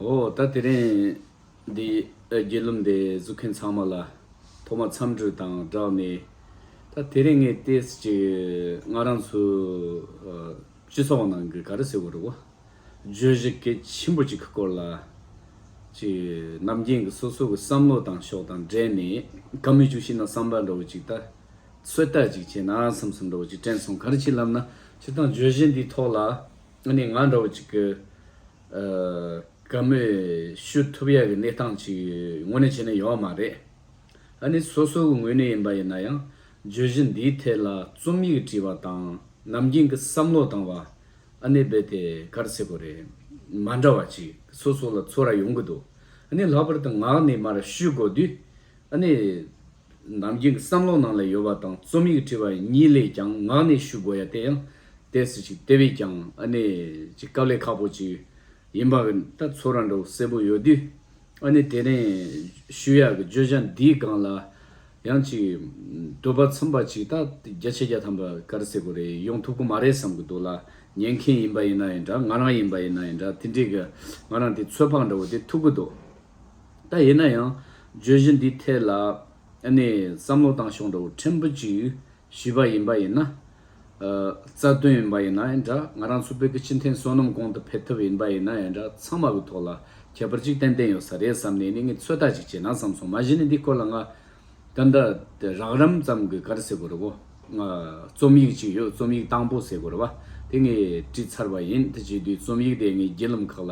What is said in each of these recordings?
འོ་ད་དེ་རིང་འདི་རྒྱུད་ལུམས་དེ་བཟོ་མཁན་ཚང་མ་ལ་ཐོག་མ་འཚམས་འདྲི་དང་སྦྲགས་ནས་ད་དེ་རིང་ངས་ལྟས་ཅིག་ང་རང་ཚོའི་སྤྱི་ཚོགས་ནང་གི་ག་རེ་ཟེར་བ་རེད་བོ། བརྗོད་གཞི་གལ་ཆེན་པོ་གཅིག་གི་སྐོར་ལ་ཅིག་ནམ་རྒྱུན་གྱི་སོ་སོ་གི་བསམ་བློ་དང་ཕྱོགས་དང་འབྲེལ་ནས་གང་མི་བྱུང་ཤེས་ན་བསམ་པ་འདྲ་བོ་ཅིག་ད་ཚོད་ལྟ་ཅིག་བྱས་ན་བསམ་སེམས་འདྲ་བོ་ཅིག་དྲན་སོང་ག་རེ་བྱེད་ལབ་ན་ཅིག་དང་བརྗོད་གཞི་འདིའི་ཐོག་ལ་ནས་ང་འདྲ་བོ་ཅིག་གི། དགའ་མོས་ཞུ་ཐུབ་ཡག་གི་གནས་སྟངས་ཅིག་ངོ་ནས་བྱས་ན་ཡོད་མ་རེད། ཨ་ནི་སོ་སོའི་ངོས་ནས་ཡིན་པ་ཡིན་ན་ཡང་བརྗོད་གཞི་འདིའི་ཐད་ལ་རྩོམ་ཡིག་བྲིས་པ་དང་ནམ་རྒྱུན་གྱི་བསམ་བློ་བཏང་བ་ཨ་ནི་རྦད་དེ་གར་སེ་གོ་རེད། མ་འདྲ་བ་ཅིག་སོ་སོ་ལ་ཚོར་ར་ཡོང་གི་འདུག་ཨ་ནི་ལྷག་པར་དུ་ངག་ནས་མར་ཞུས་དགོས་དུས་ཨ་ནི། རྣམས་ཀྱི་བསམ་བློ་ནང་ལ་ཡོད་པ་དང་རྩོམ་ཡིག་བྲིས་པ་གཉིས་ལས་ཀྱང་ངག་ནས་ཞུ་དགོས་ཡ་དེ་ཡང་དེ་སུ་ཅིག་དེ་བས་ཀྱང་ཨ་ནེ་ཅིག་སྐབས་ལས་ཁག་པོ་ཅིག་ཡིན་པ་ཨ་ཚོ་ར་འདྲོག་སེར་པོ་ཡོད་དུས་ཨ་ནེ་དེ་རིང་ཞུ་ཡག་གི་བརྗོད་བྱ་འདིའི་སྒང་ལ་ཡང་ཅིག་དུ་བབ་ཚུམ་པ་ཅིག་ད་བརྒྱ་ཆ་བརྒྱ་ཐམ་པ་གར་སེ་གོ་རེ་ཡོང་ཐུབ་གི་མ་རེད་བསམ་གི་འདུག་ལ་ཉན་མཁན་ཡིན་པ་ཡིན་ན་ཡིན་འདྲ་ང་རང་ཡིན་པ་ཡིན་ན་ཡིན་འདྲ་དེ་འགྲིག་གི་ང་རང་དེ་ཚོད་དཔག་འདྲ་བོ་དེ་ཐུབ་གི་འདུག། ད་ཡིན་ན་ཡང་བརྗོད་གཞི་འདིའི་ཐད་ལ་བསམ་བློ་བཏང་ཤོག་འདྲ་བོ་ཕྲན་བུ་ཅིག་ཞུས་པ་ཡིན་པ་ཡིན་ན། རྩ་དོན་ཡིན་པ་ཡིན་ན་འདྲ་ང་རང་ཚོ་བོད་ཀྱི་སྤྱི་མཐུན་བསོད་ནམས་གོང་དུ་འཕེལ་ཐབས་ཡིན་པ་ཡིན་ན་འདྲ་ཚང་མ་གི་ཐོག་ལ་ཁྱད་པར་ཅིག་ཏན་ཏན་ཡོད་ས་རེད་བསམ་ནས་ནི་ངས་ཚོད་ལྟ་ཅིག་བྱས་ན་བསམ་སོང་མ་གཞི་ནི་འདི་སྐོར་ལ་ང། ད་འདྲ་རགས་རམ་ཙམ་གི་ག་རེ་ཟེར་དགོས་རེད་བོ། རྩོམ་ཡིག་ཅིག་ཡོད་རྩོམ་ཡིག་དང་པོ་ཟེར་དགོས་རེད་བ་དེ་ངས་བྲིས་ཚར་བ་ཡིན་དེ་བྲིས་དུས་རྩོམ་ཡིག་དེ་ངའི་བརྒྱུད་ལམ་ཁག་ལ་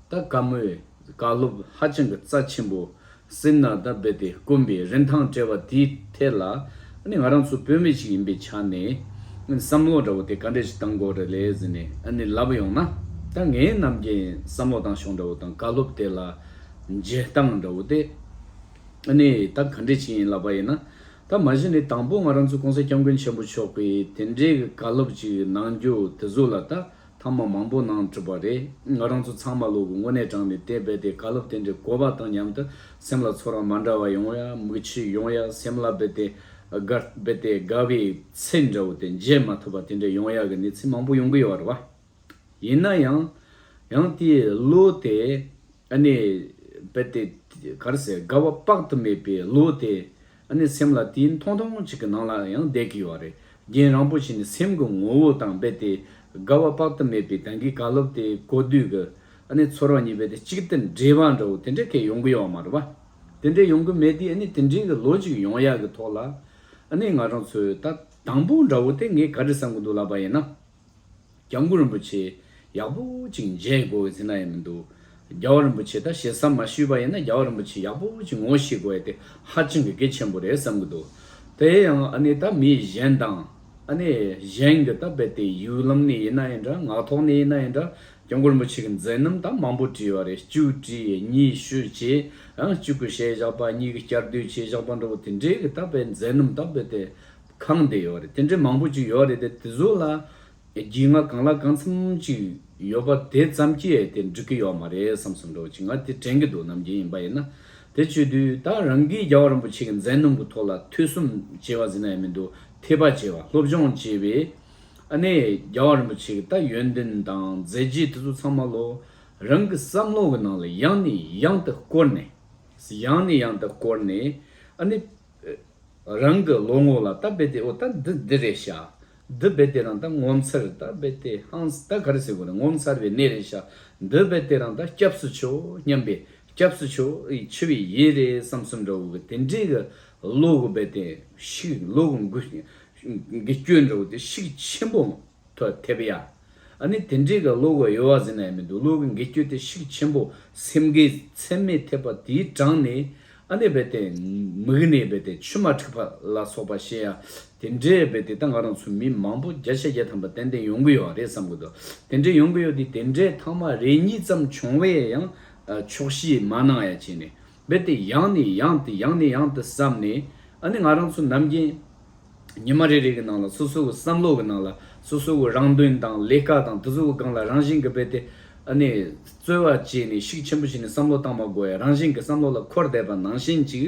ད་ག་མོས་བཀའ་སློབ་ཧ་ཅང་གི་རྩ་ཆེན་པོ་སེམས་ནང་དང་རྦད་དེ་དཀོན་པའི་རིན་ཐང་བྲལ་བ་དེའི་ཐད་ལ་ཨ་ནི་ང་རང་ཚོ་བོད་མི་ཞིག་ཡིན་པའི་ཆ་ནས་བསམ་བློ་འདྲ་བོ་དེ་ག་འདྲ་ཞིག་བཏང་དགོས་རེད་ལས་ཟེར་ནས་ཨ་ནི་ལབ་ཡོང་ན་ད་ངའི་ནམ་རྒྱན་བསམ་བློ་བཏང་ཞོག་འདྲ་བོ་དང་བཀའ་སློབ་དེ་ལ་འཇལ་སྟངས་འདྲ་བོ་དེ་ཨ་ནི་ད་ག་འདྲ་ཞིག་ཡིན་ལབ་པ་ཡིན་ན་ད་མ་གཞི་ནས་དང་པོ་ང་རང་ཚོའི་གོང་ས་སྐྱབས་མགོན་ཆེན་པོ་མཆོག་གིས་དེ་འདྲའི་བཀའ་སློབ་ཅིག་གནང་རྒྱུ་དེ་ཟུར་ལ་ད་ཐ་མ་མང་པོ་གནང་གྲུབ་པ་རེད་ང་རང་ཚོ་ཚང་མ་ལུས་པོ་དངོས་གནས་དྲངས་ནས་དེ་རྦད་དེ་བཀའ་སློབ་དེ་འདྲའི་གོ་བ་དང་མཉམ་དུ་སེམས་ལ་ཚོར་བ་མ་འདྲ་བ་ཡོང་ཡ་མིག་ཆུ་ཡོང་ཡ་སེམས་ལ་རྦད་དེ་དགའ་རྦད་དེ་དགའ་བའི་ཚིག་འདྲ་བོ་དེ་མཇལ་མ་ཐུབ་པ་དེ་འདྲ་ཡོང་ཡ་གི་གནས་ཚུལ་མང་པོ་ཡོང་གི་ཡོད་རེད་བ། ཡིན་ན་ཡང་ཡང་དེའི་བློ་དེ་ཨ་ནི་རྦད་དེ་ག་རེ་ཟེར་དགའ་བ་དཔག་ཏུ་མེད་པའི་བློ་དེ་ཨ་ནི་སེམས་ལ་དེའི་མཐོང་ཐུང་ཐུང་ཅིག་གི་ནང་ལ་ཡང་བསྡད་ཀྱི་ཡོད་རེད་རྒན་རང་པོ་ཞིག་ནི་སེམས་ཀྱི་ངོ་བོ་དང་རྦད་དེ་དགའ་བ་དཔག་ཏུ་མེད་པའི་དེང་གི་བཀའ་སློབ་དེ་གོ་དུས་ཀྱི་ཨ་ནི་ཚོར་བ་གཉིས་པོ་དེ་གཅིག་དེ་འདྲེས་པ་འདྲ་བོ་དེ་འདྲ་སྐད་ཡོང་གི་ཡོད་མ་རེད་པ། དེ་འདྲ་ཡོང་གི་མེད་དུས་ཨ་ནི་དེ་འདྲའི་གི་ལོ་ཅིག་ཡོང་ཡག་གི་ཐོག་ལ་ཨ་ནི་ང་རང་ཚོའི་ད་དང་པོ་འདྲ་བོ་དེ་ངས་ག་རེ་བསམ་གྱི་འདུག་ལབ་པ་ཡིན་ན་སྐྱབས་མགོན་རིན་པོ་ཆེ་ཡག་པོ་ཅིག་མཇལ་དགོས་བའི་ཟིན་ན་ཡང་མི་འདུག་རྒྱལ་བ་རིན་པོ་ཆེ་ད་བྱས་བསམ་མ་ཞུས་པ་ཡིན་ན་རྒྱལ་བ་རིན་པོ་ཆེ་ཡག་པོ་ཅིག་ངོ་ཤེས་དགོས་ཡ་དེ་ཧ་ཅང་གི་གེ་ཆེན་པོ་རེད་བསམ་གི་འདུག་དེ་ཡང་ཨ་ནི་ད་མི་གཞན་དང་ཨ་ནི་གཞན་གི་ད་རྦད་དེ་ཡུལ་ལམ་ནས་ཡིན་ན་ཡིན་འདྲ་ངག་ཐོག་ནས་ཡིན་ན་ཡིན་འདྲ་སྐྱབས་མགོན་རིན་པོ་ཆེ་གི་མཛད་རྣམ་ད་མང་པོ་བྲིས་བ་རེད་བཅུ་བྲིས་གཉིས་ཤོས་བྱས་ཨང་གཅིག་གི་ཞལ་བཞག་པ་གཉིས་གི་བསྐྱར་ཟློས་བྱས་བཞག་པ་འདྲ་བོ་དེ་འདྲའི་གི་ད་རྦད་མཛད་རྣམ་ད་རྦད་དེ། ཁང་དེ་ཡོད་རེད་དེ་འདྲའི་མང་པོ་ཅིག་ཡོད་རེད་དེ་དེ་ཟུག་ལ་རྒྱིས་ང་གང་ལ་གང་འཚམ་ཅིག་ཡོད་པ་དེ་ཙམ་གྱིས་དེ་འགྲིག་གི་ཡོད་མ་རེད་བསམ་བསམ་འགྲོ་ཅིག་ང་དེ་དྲན་གི་འདུག་ནམ་རྒྱུན་ཡིན་པ་ཡིན་ན་དེ་བྱོས་དུས་ད་རང་གིས་རྒྱལ་བ་རིན་པོ་ཆེ་གི་མཛད་རྣམ་གི་ཐོག་ལ་ཐོས་གསུམ་བྱས་བ་ཟིན་ན་ཡ་མི་འདུག་ཐེག་པ་བྱས་བ་སློབ་སྦྱོང་བྱས་པས་ཨ་ནེ་རྒྱལ་བ་རིན་པོ་ཆེ་གི་ད་ཡོན་ཏན་དང་མཛད་རྗེས་དེ་ཚོ་ཚང་མ་ལོ་རང་གི་བསམ་བློ་གི་ནང་ལ་ཡང་ནས་ཡང་དུ་བསྐོར་ནས་ཡང་ནས་ཡང་དུ་བསྐོར་ནས་ཨ་ནེ། རང་གི་ལོ་ངོ་ལ་རྟ་རྦད་དེ་འོ་ད་འདི་འདི་རེད་ཤ། འདི་རྦད་དེ་རང་ད་ངོ་མཚར་རྟ་རྦད་དེ་ཧང་ཟད་ག་རེ་ཟེར་དགོས་ན་ངོ་མཚར་བའི་གནས་རེད་ཤ། འདི་རྦད་དེ་རང་ད་སྐྱབས་སུ་ཆོས་སྙམ་པའི་སྐྱབས་སུ་ཆོས་འཆི་བའི་ཡིད་རེད་བསམ་སོང་འདྲ་བོ་གི་དེ་འདྲའི་གི་ལོ་གི་རྦད་དེ་ཤིག་ལོ་གི་འགུལ་གི་སྐྱོད་འདྲ་བོ་དེ་ཤིག་ཆེན་པོ་མང། ཐོ་དེབ་ཡ། ཨ་ནི་དེ་འདྲའི་ག་ལུག་ག་ཡོལ་བ་ཟིན་ན་ཡ་མི་འདུག་ལུག་གི་འགལ་སྐྱོད་དེ་ཤིག་ཆེན་པོ་སེམས་འགལ་ཚད་མེད་ཐེབས་པ་དེའི་གྲངས་ནི་ཨ་ནི་རྦད་དེ་མིག་ནི་རྦད་དེ་ཆུ་མ་འཁྲིགས་པ་ལ་སོགས་པ་ཤེས་ཡ་དེ་འདྲའི་རྦད་དེ་ད་ང་རང་ཚོ་མི་མང་པོ་བརྒྱ་ཆ་བརྒྱ་ཐམ་པ་ཏན་ཏན་ཡོང་གི་ཡོད་རེད་བསམ་གི་འདུག་དེ་འདྲའི་ཡོང་གི་ཡོད་དེ་དེ་འདྲའི་ཐང་མ་རེ་གཉིས་ཙམ་བྱུང་བས་ཡང་ཆོག་ཤི་མ་གནང་ཡ་བྱས་ནས་རྦད་དེ་ཡང་ནས་ཡང་དུ་ཡང་ནས་ཡང་དུ་བསམ་ནས་ཨ་ནི་ང་རང་ཚོ་ནམ་རྒྱུན་ཉི་མ་རེ་རེ་གི་ནང་ལ་སོ་སོའི་བསམ་བློ་གི་ནང་ལ་སོ་སོའི་རང་དོན་དང་ལས་ཀ་དང་དུ་སོའི་སྒང་ལ་རང་བཞིན་གི་རྦད་དེ་ཨ་ནི་རྩོལ་བ་བྱས་ནས་ཤུགས་ཆེན་པོ་བྱས་ནས་བསམ་བློ་བཏང་མ་དགོས་ཡ་རང་བཞིན་གི་བསམ་བློ་ལ་འཁོར་བསྡད་པ་ནང་བཞིན་ཅིག་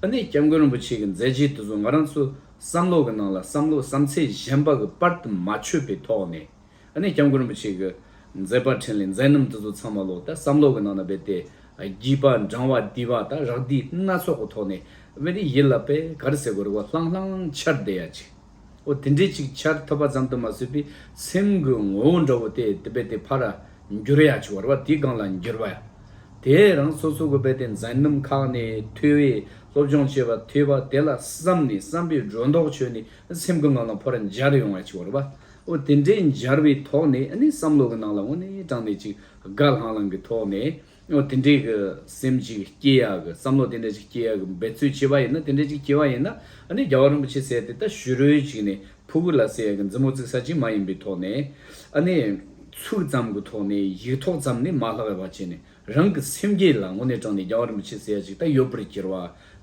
ཨ་ནི་སྐྱབས་མགོན་རིན་པོ་ཆེ་གི་མཛད་རྗེས་དུ་སོ་ང་རང་ཚོའི་བསམ་བློ་གི་ནང་ལ་བསམ་བློ་བསམ་ཚད་གཞན་པ་གི་པར་དུ་མ་ཆོད་པའི་ཐོག་ནས། ཨ་ནི་སྐྱབས་མགོན་རིན་པོ་ཆེ་གི་མཛད་པ་ཕྲིན་ལས་མཛད་རྣམ་འདི་ཚོ་ཚང་མ་ལོག་ལྟ་བསམ་ལོག་གི་ནང་ན་སྦས་ཏེ་བགྱིས་པ་འབྲང་བ་བསྡིས་པ་དང་རག་བསྡིས་སྣ་ཚོགས་ཀྱི་ཐོག་ནས་དབེན་རིགས་ཡིད་ལ་པད་དཀར་སེར་པོ་རི་བོ་ལྷང་ལྷང་འཆར་བསྡད་ཡ་ཅིག་ཨོ་དེ་འདྲས་ཅིག་འཆར་ཐུབ་པ་ཙམ་དུ་མ་ཟོས་པའི་སེམས་གི་ངོ་བོ་འདྲ་བོ་དེ་དེ་སྦས་ཏེ་ཕར་འགྱུར་ཡ་ཅིག་བར་བ་དེའི་སྒང་ལ་འགྱུར་བ་ཡ་དེས་རང་སོ་སོ་གི་སྦས་ཏེ་མཛད་རྣམ་ཁག་ནས་ཐོས་བས་སློབ་སྦྱོང་བྱས་པ་ཐོས་པ་དེ་ལ་བསམ་ནས་བསམ་པའི་སྒྲོ་འདོགས་ཆོད་ནས་སེམས་གི་ངང་ལ་ཕར་འབྱར་ཡོང་ཡ་ཅིག་བར་བ་ཨོ་དེ་འདྲའི་འབྱར་བའི་ཐོག་ནས་ཨ་ནི་བསམ་བློ་གི་ནང་ལ་དངོས་གནས་དྲང་གནས་ཅིག་དགའ་ལྷང་ལྷང་གི་ཐོག་ནས་ཨོ་དེ་འདྲའི་གི་སེམས་ཅིག་སྐྱེ་ཡག་གི་བསམ་བློ་དེ་འདྲ་ཅིག་སྐྱེ་ཡག་གི་འབད་རྩོལ་བྱེད་པ་ཡིན་ན་དེ་འདྲ་ཅིག་སྐྱེ་བ་ཡིན་ན་ཨ་ནི་རྒྱལ་བ་རིན་པོ་ཆེ་ཟེར་ཏེ་ད་ཞུ་རོལ་ཅིག་ནས་ཕུ་གུ་ལ་ཟེར་ཡག་གི་མཛུབ་མོ་བཙིགས་ས་ཅིག་མ་ཡིན་པའི་ཐོག་ནས་ཨ་ནི་ཚུགས་ཙམ་གི་ཐོག་ནས་ཡིག་ཐོག་ཙམ་ནས་མ་ལྷག་བ་བྱས་ནས་རང་གི་སེམས་བསྐྱེད་ལ་དངོས་གནས་དྲངས་ནས་རྒྱ་བར་མི་ཕྱེད་ཟེར་ཡ་ཅིག་ད་ཡོད་པར་གྱུར་བ་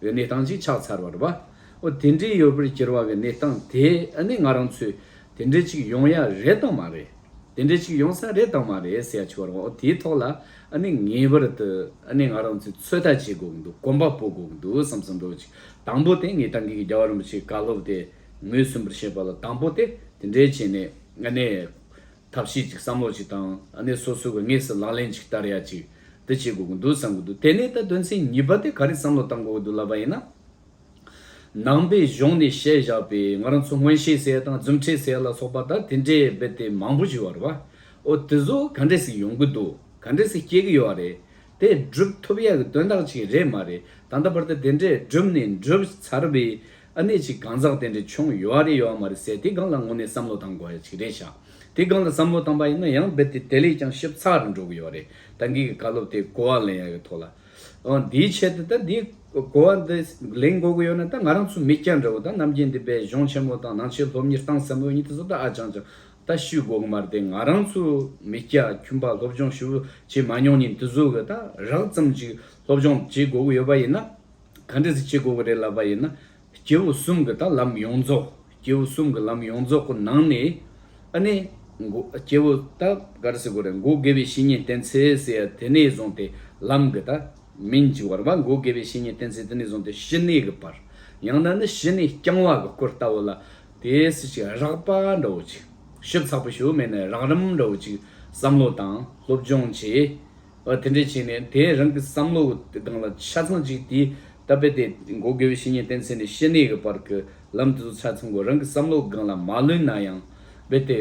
འི་གནས་སྟངས་ཅིག་ཆགས་ཚར་བར་བ། འོ་དེ་འདྲའི་ཡོད་པར་གྱུར་བ་འི་གནས་སྟངས་དེ་ནི་ང་རང་ཚོས་དེ་འདྲའི་ཅིག་ཡོང་ཡ་རེད་དང་མ་རེད། དེ་འདྲའི་ཅིག་ཡོང་ས་རེད་དང་མ་རེད་ཟེར་ཡ་ཆུག་བར་བ་འོ་དེའི་ཐོག་ལ་ནི་ངེས་པར་དུ་ནི་ང་རང་ཚོས་ཚོད་ལྟ་བྱེད་དགོས་འདུག་གོམ་པ་སྤོ་དགོས་འདུག་བསམ་སོང་འགྲོ་ཅིག་དང་པོ་དེ་ངེད་ཏང་གིས་རྒྱ་བར་མི་ཕྱེད་བཀའ་སློབ་དེ་ངོས་ཟིན་པར་བྱེད་པ་ལ་དང་པོ་དེ་དེ་འདྲའི་བྱས་ནས་ནི། ཐབས་ཤེས་ཅིག་བསམ་བློ་ཅིག་དང་ནི་སོ་སོའི་བའི་ངེས་སུ་ལག་ལེན་ཅིག་བསྟར་ཡ་ཅིག་དེ་བྱེད་དགོས་ཀྱི་འདུག་བསམ་གྱི་འདུག་དེ་ནས་ད་དོན་ཚན་གཉིས་པ་དེ་ག་རེ་བསམ་བློ་བཏང་དགོས་ཀྱི་འདུག་ལབ་པ་ཡིན་ན། ནང་པའི་གཞུང་ནས་བཤད་བཞག་པའི་ང་རང་ཚོ་སྔོན་བཤད་ཟེར་ཡ་དང་རྫུན་ཁྲེས་ཟེར་ཡ་ལ་སོགས་པ་དང་དེ་འདྲའི་རྦད་དེ་མང་པོ་ཞིག་ཡོད་རེད་བ། འོ་དེ་ཚོ་ག་འདྲས་སུ་ཡོང་གི་འདུག་ག་འདྲས་སུ་སྐྱེལ་གྱི་ཡོད་རེད། དེ་བསྒྲུབ་ཐུབ་ཡག་གི་དོན་དག་ཅིག་རེད་མ་རེད་ད་ལྟ་བར་དུ་དེ་འདྲས་བསྒྲུབས་ནས་འགྲུབ་ཚར་བའི་ཨ་ནེ་ཅིག་གང་ཟག་དེ་འདྲས་བྱུང་ཡོད་བ་རེད་ཡོད་བ་མ་རེད་ཟེར་དེའི་སྒང་ལ་དངོས་གནས་བསམ་བློ་བཏང་དགོས་ཡག་ཅིག་རེད་ཤག་དེའི་སྒང་ལ་བསམ་བློ་བཏང་པ་ཡིན་ན་ཡང་རྦད་དེ་དེ་ལས་ཀྱང་ཞིབ་ཚགས་རེ་འགྲོ་གི་ཡོད་རེད་ད་འགའི་གི་བཀའ་སློབ་དེ་གོ་བ་ལེན་ཡག་གི་ཐོག་ལ་ཨང་དེའི་ཆེད་དུ་ད་དེའི་གོ་བ་འདི་ལེན་དགོས་གི་ཡོད་ན་ད་ང་རང་ཚོ་མི་སྐྱ་འདྲ་བོ་ད་རྣམ་རྒྱལ་འདི་བས་གཞུང་ཆེན་མོ་དང་ནང་ཆེན་སློབ་གཉེར་སྟངས་སམ་འོས་གཉིས་དེ་ཚོ་ད་ཨ་ཅང་ཅང་ད་ཤུད་གོག་མར་དེ་ང་རང་ཚོ་མི་སྐྱ་ཁྱུམ་པ་སློབ་སྦྱོང་ཞུ་བྱེད་མ་མྱོང་ཉིན་དུ་ཟོ་གི་ད་རག་ཙམ་ཅིག་སློབ་སྦྱོང་བྱེད་དགོ་གི་ཡོད་པ་ཡིན་ན། ག་འདྲི་ཟིག་བྱེད་དགོ་གི་རེད་ལབ་པ་ཡིན་ན། སྐྱེ་བོ་གསུམ་གི་ད་ལམ་ཡོངས་རྫོགས་སྐྱེ་བོ་གསུམ་གི་ལམ་ཡོངས་རྫོགས་གི་ནང་ནས། ཨ་ནེ། སྐྱེ་བོ་ད་ག་རེ་ཟེར་དགོ་རེད་མགོ་དགེ་བའི་བཤེས་གཉེན་བསྟེན་ཚེ་ཟེར་ཡ་དེ་ནས་བཟུང་སྟེ་ལམ་གི་ད་མིན་གྱི་བར་བ་མགོ་དགེ་བའི་བཤེས་གཉེན་བསྟེན་ཚེ་དེ་ནས་བཟུང་སྟེ་ཞི་གནས་གི་བར། ཡང་ན་ནི་ཞི་གནས་རྐྱང་བ་གི་སྐོར་ལྟ་བུ་ལ། དེའི་སྲིད་ཞི་རགས་པ་འདྲ་བོ་ཅིག་ཞིབ་ཚགས་པོ་ཞུ་མེད་ནས་རང་རིམ་འདྲ་བོ་ཅིག་བསམ་བློ་དང་སློབ་སྦྱོང་བྱས། དེ་འདྲ་བྱས་ནས་དེས་རང་གི་བསམ་བློ་དེ་སྒང་ལ་ཆ་ཚང་ཅིག་དེའི་ལྟ་བས་དེ་མགོ་དགེ་བའི་བཤེས་གཉེན་བསྟེན་ཚེ་ནས་ཤི་ནས་ཀྱི་བར་གྱི་ལམ་དེ་ཚོ་ཆ་ཚང་གོ་རང་གི་བསམ་བློ་སྒང་ལ་མ་ལུས་ན་ཡང་བས་དེ།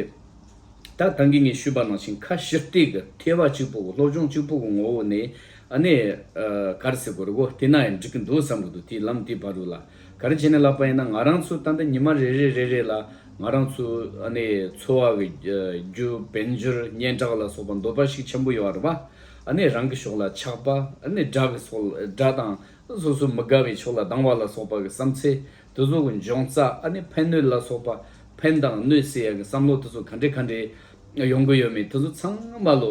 ད་ད་གིན་ངས་ཞུས་པ་ནང་བཞིན་ཁ་ཞིབ་ཏིག་གི་ཐེ་བ་གཅིག་པོ་གི་སློབ་སྦྱོང་གཅིག་པོ་གི་ངོ་བོ་ནས་ཨ་ནེ། ག་རེ་ཟེར་དགོས་རེ་གོ་དེ་ན་ཡང་འགྲིག་གི་འདུག་བསམ་གི་འདུག་དེའི་ལམ་དེའི་བར་རུ་ལ་ག་རེ་བྱས་ནས་བསླབ་པ་ཡིན་ན་ང་རང་ཚོ་ད་ལྟ་ཉི་མ་རེ་རེ་རེ་རེ་ལ་ང་རང་ཚོ་འཚོ་བ་གི་རྒྱུ་དཔལ་འབྱོར་སྙན་གྲགས་ལ་སོགས་པ་འདོད་པ་ཞིག་ཆེན་པོ་ཡོད་རེད་པ། རང་གི་ཕྱོགས་ལ་ཆགས་པ། དགྲ་གི་སོགས་དགྲ་དང་སོ་སོ་མི་དགའ་བའི་ཕྱོགས་ལ་སྡང་བ་ལ་སོགས་པ་གི་བསམ་ཚེ་དེ་ཚོ་གི་འབྱུང་རྩ་ཕན་གནོད་ལ་སོགས་པ་ཕན་དང་གནོད་སེལ་ཡ་གི་བསམ་བློ་དེ་ཚོ་ག་འདྲེ་ག་འདྲེ་ཡོང་གི་ཡོད་མེད་དེ་ཚོ་ཚང་མ་ལོ།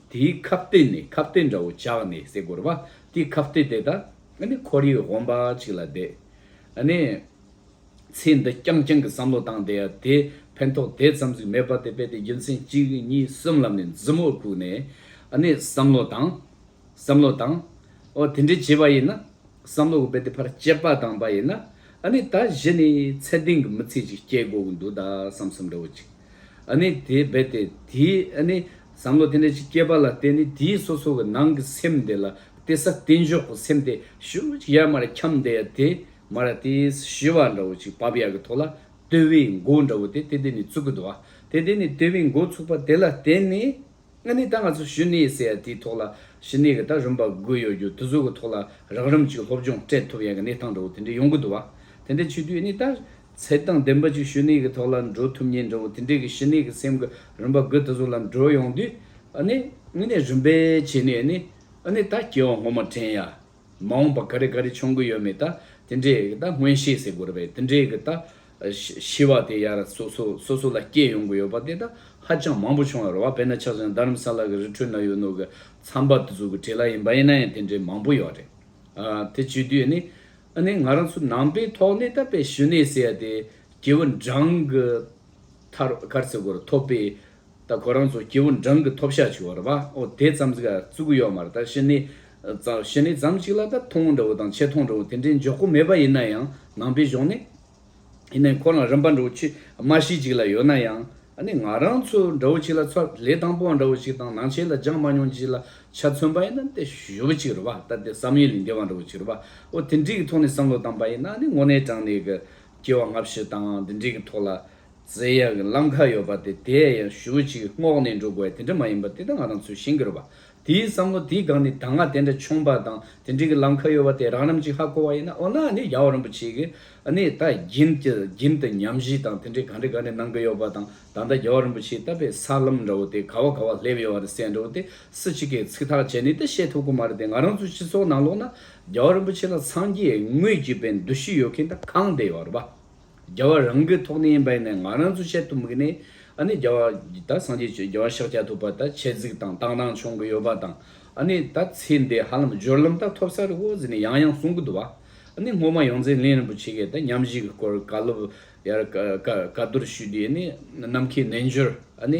དེའི་ཁ་བརྟེན་ནས་ཁ་བརྟེན་འདྲ་བོ་བཅག་ནས་བསྲེག་དགོས་རེད་པ། དེའི་ཁ་བརྟེན་དེ་དག་ནི་ཁོར་ཡུག་དབེན་པ་ཅིག་ལ་བསྡད་ནས། ཚེ་འདི་རྐྱང་རྐྱང་གི་བསམ་བློ་བཏང་སྟེ་དེས་ཕན་ཐོགས་དེ་ཙམ་ཟིག་མེད་པ་དེ་བས་ཏེ་རྒྱུ་མཚན་གཅིག་གཉིས་གསུམ་ལབ་ནས་མཛུབ་མོ་བཀུག་ནས། བསམ་བློ་བཏང། བསམ་བློ་བཏང། ཨོ་དེ་འདྲས་བྱས་པ་ཡིན་ན། བསམ་བློ་གོ་བས་ཏེ་ཕར་དཔྱད་པ་བཏང་པ་ཡིན་ན། ད་གཞི་ནས་ཚད་ལྡན་གྱི་མི་ཚེ་ཅིག་སྐྱེལ་དགོས་ཀྱི་འདུག་ད་བསམ་བསམ་འདྲ་བོ་ཅིག། དེ་བས་ཏེ་དེའི་བསམ་བློ་དེ་འདྲ་ཅིག་སྐྱེས་པ་ལ་བརྟེན་ནས་དེའི་སོ་སོ་གི་ནང་གི་སེམས་དེ་ལ་བལྟས་ས་བལྟས་འཇོག་གི་སེམས་དེ་ཤུགས་ཅིག་ཡར་མར་འཁྱམས་བསྡད་ཡ་དེ་མར་ཡ་དེས་ཞི་བ་འདྲ་བོ་ཅིག་བབས་ཡ་གི་ཐོག་ལ་ལྟོས་བའི་མགོ་འདྲ་བོ་དེ་དེ་དེ་ནས་ཚུགས་ཀི་འདུག་དེ་དེ་ནས་ལྟོས་བའི་མགོ་ཚུགས་པ་དེ་ལ་བརྟེན་ནས་ཨ་ནི་ད་ང་ཚོ་ཞི་གནས་ཟེར་ཡ་དེའི་ཐོག་ལ་ཞི་གནས་གི་ད་རིམ་པ་དགོས་ཡོད་རྒྱུ་དེ་ཚོ་གི་ཐོག་ལ་རགས་རིམ་ཅིག་སློབ་སྦྱོང་སྤྲད་ཐུབ་ཡ་གི་གནས་སྟངས་འདྲ་བོ་དེ་འདྲ་ཡོང་གི་འདུག་དེ་འདྲ་བྱེད་དུས་ཨ་ནི་ད་ཚད་དང་ལྡན་པ་ཅིག་ཞུ་ནས་ཀྱི་ཐོག་ལ་འགྲོ་ཐུབ་ཉེན་འགྲོ་བ་དེ་འདྲས་ཀྱི་ཞི་གནས་ཀྱི་སེམས་ཀྱི་རིམ་པ་རྒོད་ད་གཟུགས་ལ་འགྲོ་ཡོང་དུས་ནི་དངོས་གནས་རིམ་པའི་བྱས་ནས་ནི་ནི་ད་སྐྱེ་བ་ངོ་མ་དྲན་ཡ། མ་འོངས་པ་ག་རེ་ག་རེ་འཆོང་གི་ཡོད་མེད་ད་དེ་འདྲས་ཀྱི་ད་སྔོན་ཤེས་ཟེར་དགོས་ར་བས་དེ་འདྲས་ཀྱི་ད་ཤི་བ་དེ་ཡར་སོ་སོ་སོ་སོ་ལ་སྐྱེས་ཡོང་གི་ཡོད་པ་དེ་ད་ཧ་ཅང་མང་པོ་བྱུང་ཡོད་ར་བ་བས་ན་ཆགས་ཅན་རྡ་རམ་ས་ལ་ཀྱི་རི་ཁྲོད་ན་ཡོད་ནོ་ཀྱི་ཚངས་པ་དུ་གཟུགས་ཀྱི་གྲས་ལ་ཡིན་པ་ཡིན་ན་ཡང་དེ་འདྲས་མང་པོ་ཡོད་ར་རེད། དེ་བྱུས་དུས་ནི་ཨ་ནེ་ང་རང་ཚོ་ནང་པའི་ཐོག་ནས་ད་པའི་ཞུ་ནེ་ཟེར་ཡ་དེ་སྐྱེ་བོ་འབྲང་གི་ཐར་ཀར་ཚེ་སྒོར་ཐོབ་པས་ད་ཁོ་རང་ཚོ་སྐྱེ་བོ་འབྲང་གི་ཐོབ་ཤ་ཆུ་བར་བ་ཨོ་དེ་ཙམ་ཟིག་བཙུགས་ཡོད་མ་རེད་ད་ཞི་ནེ་ཞི་ནེ་ཙམ་ཞིག་ལ་ད་ཐོང་འདྲ་བོ་དང་ཆེ་ཐོང་འདྲ་བོ་དེ་འདྲའི་འཇོག་གོ་མེད་པ་ཡིན་ན་ཡང་ནང་པའི་གཞུང་ནས་ཡིན་ནའི་ཁོ་རང་རིམ་པ་འདྲ་བོ་ཆི་མ་ཞིག་ཅིག་ལ་ཡོད་ན་ཡང། ནི་ང་རང་ཚོ་འདྲ་བོ་ཆིག་ལ་ཚ་ལས་དང་པོ་བ་འདྲ་བོ་ཆིག་དང་ནང་ཆེན་ལ་སྦྱངས་མ་མྱོང་ཆིག་ལ་ཆ་མཚོན་པ་ཡིན་ན་ཏེ་ཞུ་བ་ཆིག་རུ་བ་ལྟ་སྟེ་བསམ་ཡུལ་ལས་འདས་བ་འདྲ་བོ་ཆིག་རུ་བ་འོ་དེ་འདྲིག་གི་ཐོག་ནས་བསམ་བློ་བཏང་པ་ཡིན་ན་ནི་དངོས་གནས་དྲང་གནས་ཀྱི་སྐྱེ་བ་སྔ་ཕྱི་དང་འདི་འདྲིག་གི་ཐོག་ལ་བརྩེ་ཡག་གི་ལམ་ཁ་ཡོད་པ་དེ་དེ་ཡང་ཞུ་བ་ཆིག་སྔོག་ནས་འགྲོ་དགོས་བ་དེ་འདྲ་མ་ཡིན་པ་དེ་ད་ང་རང་ཚོའི་ཞིང་གི་རུ་བ་དེའི་བསམ་བློ་དེའི་སྒང་ནས་གདམས་ངག་དེ་འདྲ་འཁྱོངས་པ་དང་དེ་འདྲིའི་ལམ་ཁ་གཡོ་བ་དེ་རང་རིམ་གྱིས་ཧ་གོ་བ་ཡིན་ན་འོ་ན་ནི་རྒྱལ་བ་རིན་པོ་ཆེ་གིས་ནི་ད་གྱིན་གྱི་གྱིན་དུ་ཉམས་བཞེས་དང་དེ་འདྲའི་ག་འདྲི་ག་འདྲི་གནང་གི་ཡོད་པ་དང་ད་ལྟ་རྒྱལ་བ་རིན་པོ་ཆེའི་བཏབ་པའི་ས་ལམ་འདྲ་བོ་དེ་ག་བ་ག་བ་སླེབས་ཡོད་བ་རེད་སེ་འདྲ་བོ་དེ་སུ་གཅིག་གིས་ཚིག་ཐག་བཅད་ནས་ཏི་བཤད་ཐུབ་གི་མ་རེད་དེ་ང་རང་ཚོའི་སྤྱི་ཚོགས་ནང་ལོགས་ན་རྒྱལ་བ་རིན་པོ་ཆེ་ལ་འཚང་རྒྱའི་ངོས་ཀྱི་པའི་འདུ་ཤེས་ཡོད་མཁན་ད་གང་བསྡད་ཡོད་རེད་པ། རྒྱལ་བ་རང་གི་ཐོག་ནས་ཡིན་པ་ཡིན་ནའི་ང་རང་ཚོས་བཤད་ཐུབ་མི་ནི་ཨ་ནི་རྒྱལ་བ་ད་སངས་རྒྱས་ཆོས་རྒྱལ་བ་ཤཱཀྱ་ཐུབ་པ་ད་ཆེད་གཟིགས་དང་བཏང་བཏང་བྱུང་གི་ཡོད་པ་དང་ཨ་ནི་ད་ཚེ་འདི་ཧ་ལམ་སྦྱོར་ལམ་ད་ཐོབ་ས་རེད་འོ་ཟེར་ནས་ཡང་ཡང་གསུང་གི་འདུག་བ་ཨ་ནི་སྔོན་མ་ཡོངས་འཛིན་གླིང་རིན་པོ་ཆེ་གིས་ད་ཉམས་བཞེས་ཀྱི་སྐོར་བཀའ་སློབ་ཡར་བཀའ་བསྡུར་ཞུས་དུས་ཨ་ནི་ནམ་མཁའི་རྣལ་འབྱོར་ཨ་ནི་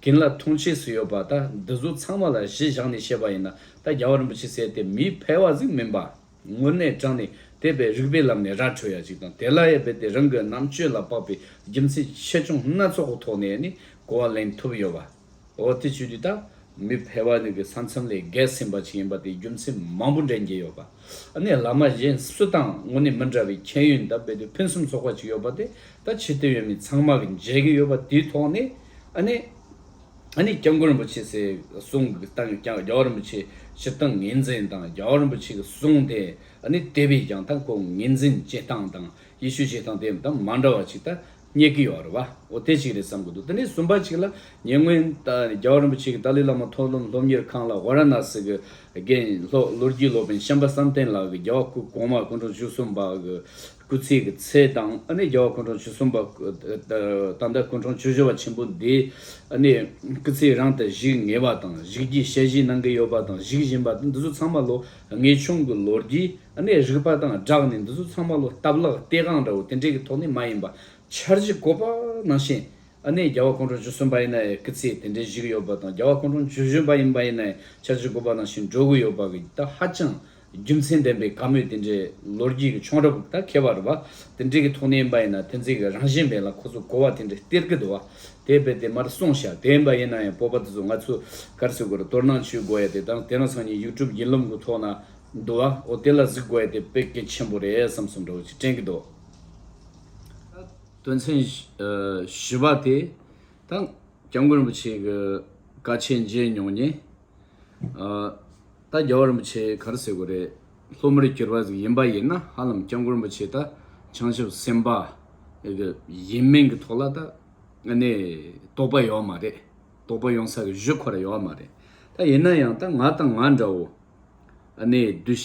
རྒན་ལ་མཐོང་ཆས་སུ་ཡོད་པ་ད་འདི་ཚོ་ཚང་མ་ལ་གཞི་བཞག་ནས་བཤད་པ་ཡིན་ན་ད་རྒྱལ་བ་རིན་པོ་ཆེ་ཟེར་དེ་མིའི་ཕལ་བ་ཟིག་མིན་པ་དངོས་གནས་དྲང་ནས་དེ་བས་རིགས་པའི་ལམ་ནས་ར་འཕྲོད་ཡ་ཅིག་དང་དེ་ལ་ཡ་བས་དེ་རང་གི་རྣམ་དཔྱོད་ལ་དཔག་པའི་རྒྱུ་མཚན་ཆེ་ཆུང་སྣ་ཚོགས་ཀྱི་ཐོག་ནས་ནི་གོ་བ་ལེན་ཐུབ་ཡོད་པ་འོ་དེ་བྱུས་དུས་ད་མི་ཕལ་བ་ནི་གི་ས་མཚམས་ལས་བརྒལ་ཟིན་པ་ཅིག་ཡིན་པ་དེའི་རྒྱུ་མཚན་མང་པོ་འདྲེན་གྱི་ཡོད་པ་ནི་བླ་མ་གཞན་སུ་དང་དངོས་གནས་མི་འདྲ་བའི་ཁྱད་ཡོན་ད་བས་དུས་ཕུན་སུམ་ཚོགས་པ་ཅིག་ཡོད་པ་དེ་ད་ཕྱི་སྡོད་ཡོད་མི་ཚང་མ་གི་མཇལ་གི་ཡོད་པ་དེའི་ཐོག་ནས་ཨ་ནི། ཨ་ནི་སྐྱབས་མགོན་རིན་པོ་ཆེ་ཚེ་གསུང་གི་སྟངས་ཀྱང་རྒྱལ་བ་རིན་པོ་ཆེ་སྤྱི་སྟངས་ངེས་འཛིན་དང་རྒྱལ་བ་རིན་པོ་ཆེ་གི་གསུང་དེ་ཨ་ནི་དེ་བས་ཀྱང་ད་ཁོང་ངེས་འཛིན་བྱེད་སྟངས་དང་ཡེ་ཤུ་བྱེད་སྟངས་དེ་ད་མ་འདྲ་བ་ཅིག་ད་རྙེད་གི་ཡོད་རེད་བ་འོ་དེ་ཅིག་རེད་བསམ་གི་འདུག་དེ་ནས་གསུམ་པ་ཅིག་ལ་ཉེ་སྔོན་རྒྱལ་བ་རིན་པོ་ཆེ་གི་ཏཱ་ལའི་བླ་མ་མཐོ་སློབ་སློབ་གཉེར་ཁང་ལ་ཝཱ་ར་ནཱ་སི་གི་དགེན་ལྷོ་ལོ་རྒྱུས་སློབ་དཔོན་ཤམ་པ་བསམ་གཏན་ལགས་ཀྱི་རྒྱལ་བ་སྐུ་གོང་མ་སྐུ་འཕྲོག་བཅུ་གསུམ་པ་གི་སྐུ་ཚེ་གི་ཚད་དང་ཨ་ནེ་རྒྱལ་བ་སྐུ་འཕྲོང་བཅུ་གསུམ་པ། ད་ལྟ་སྐུ་འཕྲོང་བཅུ་བཞི་བ་ཆེན་པོ་འདིས་ཨ་ནེ་སྐུ་ཚེ་རང་དང་བཞིག་ངེས་པ་དང་བཞིག་གྱི་ཞལ་བཞི་གནང་གི་ཡོད་པ་དང་བཞིག་བཞིན་པ་འདི་ཚོ་ཚང་མ་ལོ་ངེས་ཆུང་གི་ལོ་རྒྱུས་ཨ་ནེ་རིག་པ་དང་སྦྲགས་ནས་འདི་ཚོ་ཚང་མ་ལོ་སྟབས་ལག་ལྟས་གང་འདྲ་བོ་དེ་འདྲས་ཀྱི་ཐོག་ནས་མ་ཡིན་པ་འཆར་གཞི་བཀོད་པ་ནང་བཞིན་ཨ་ནེ་རྒྱལ་བ་སྐུ་འཕྲོང་བཅུ་གསུམ་པ་ཡིན་ན་ཡང་སྐུ་ཚེ་དེ་འདྲས་བཞིག་ཡོད་པ་དང་རྒྱལ་བ་སྐུ་འཕྲོང་བཅུ་བཞི་པ་ཡིན་པ་ཡིན་ན་ཡང་འཆར་གཞི་བཀོད་པ་ནང་བཞིན་འགྲོ་གི་ཡོད་པ་གི་ད་ཧ་ཅང་རྒྱུ་མཚན་ལྡན་པའི་བཀའ་མོལ་དེ་འདྲའི་ལོ་རྒྱུས་ཀྱི་ཆོང་རབས་དང་ཁྱད་པར་བ་དེ་འདྲའི་གི་ཐོག་ནས་ཡིན་པ་ཡིན་ན་དེ་འཛིན་གི་རང་བཞིན་མེད་ལ་ཁོ་ཚོ་གོ་བ་དེ་འདྲའི་སྟེར་གི་འདུག་བ་དེ་རྦད་དེ་མར་སོང་ཤག་དེ་ཡིན་པ་ཡིན་ན་ཡང་སྤོབས་པ་དེ་ཚོ་ང་ཚོ་གར་སོས་གོར་དོར་ནང་བཅུག་དགོ་ཡ་དེ་དང་དེ་ན་ཚང་གཉིས་ཡུག་ཀྲུབ་ཡིན་ལུམ་གི་ཐོག་ན་འདུག་བ་འོ་དེ་ལ་གཟིགས་དགོ་ཡ་དེ་དཔེ་གལ་ཆེན་པོ་རེད་བསམ་བསམ་འདྲ་བོ་ཅིག་དྲན་གི་འདུག་དོན་ཚན་བཞི་བ་དེ་དང་སྐྱབས་མགོན་རིན་པོ་ཆེ་གི་བཀའ་ཆད་མཇལ་མྱོང་ཉེ། ད་རྒྱ་བ་རིན་པོ་ཆེ་གར་བསད་དགོས་རེད་སློབ་མར་གྱུར་པ་ཟིག་ཡིན་པ་ཡིན་ན་ཧ་ལམ་སྐྱབས་མགོན་རིན་པོ་ཆེ་ད་བྱང་ཆུབ་སེམས་དཔའ་གི་ཡིན་མིན་གི་ཐོག་ལ་ད་ནི་དོགས་པ་ཡོད་མ་རེད་དོགས་པ་ཡོང་ས་གི་གཞི་ཁོ་ར་ཡོད་མ་རེད་ད་ཡིན་ན་ཡང་ད་ང་དང་ང་འདྲ་བོ་ཨ་ནི་གདུལ་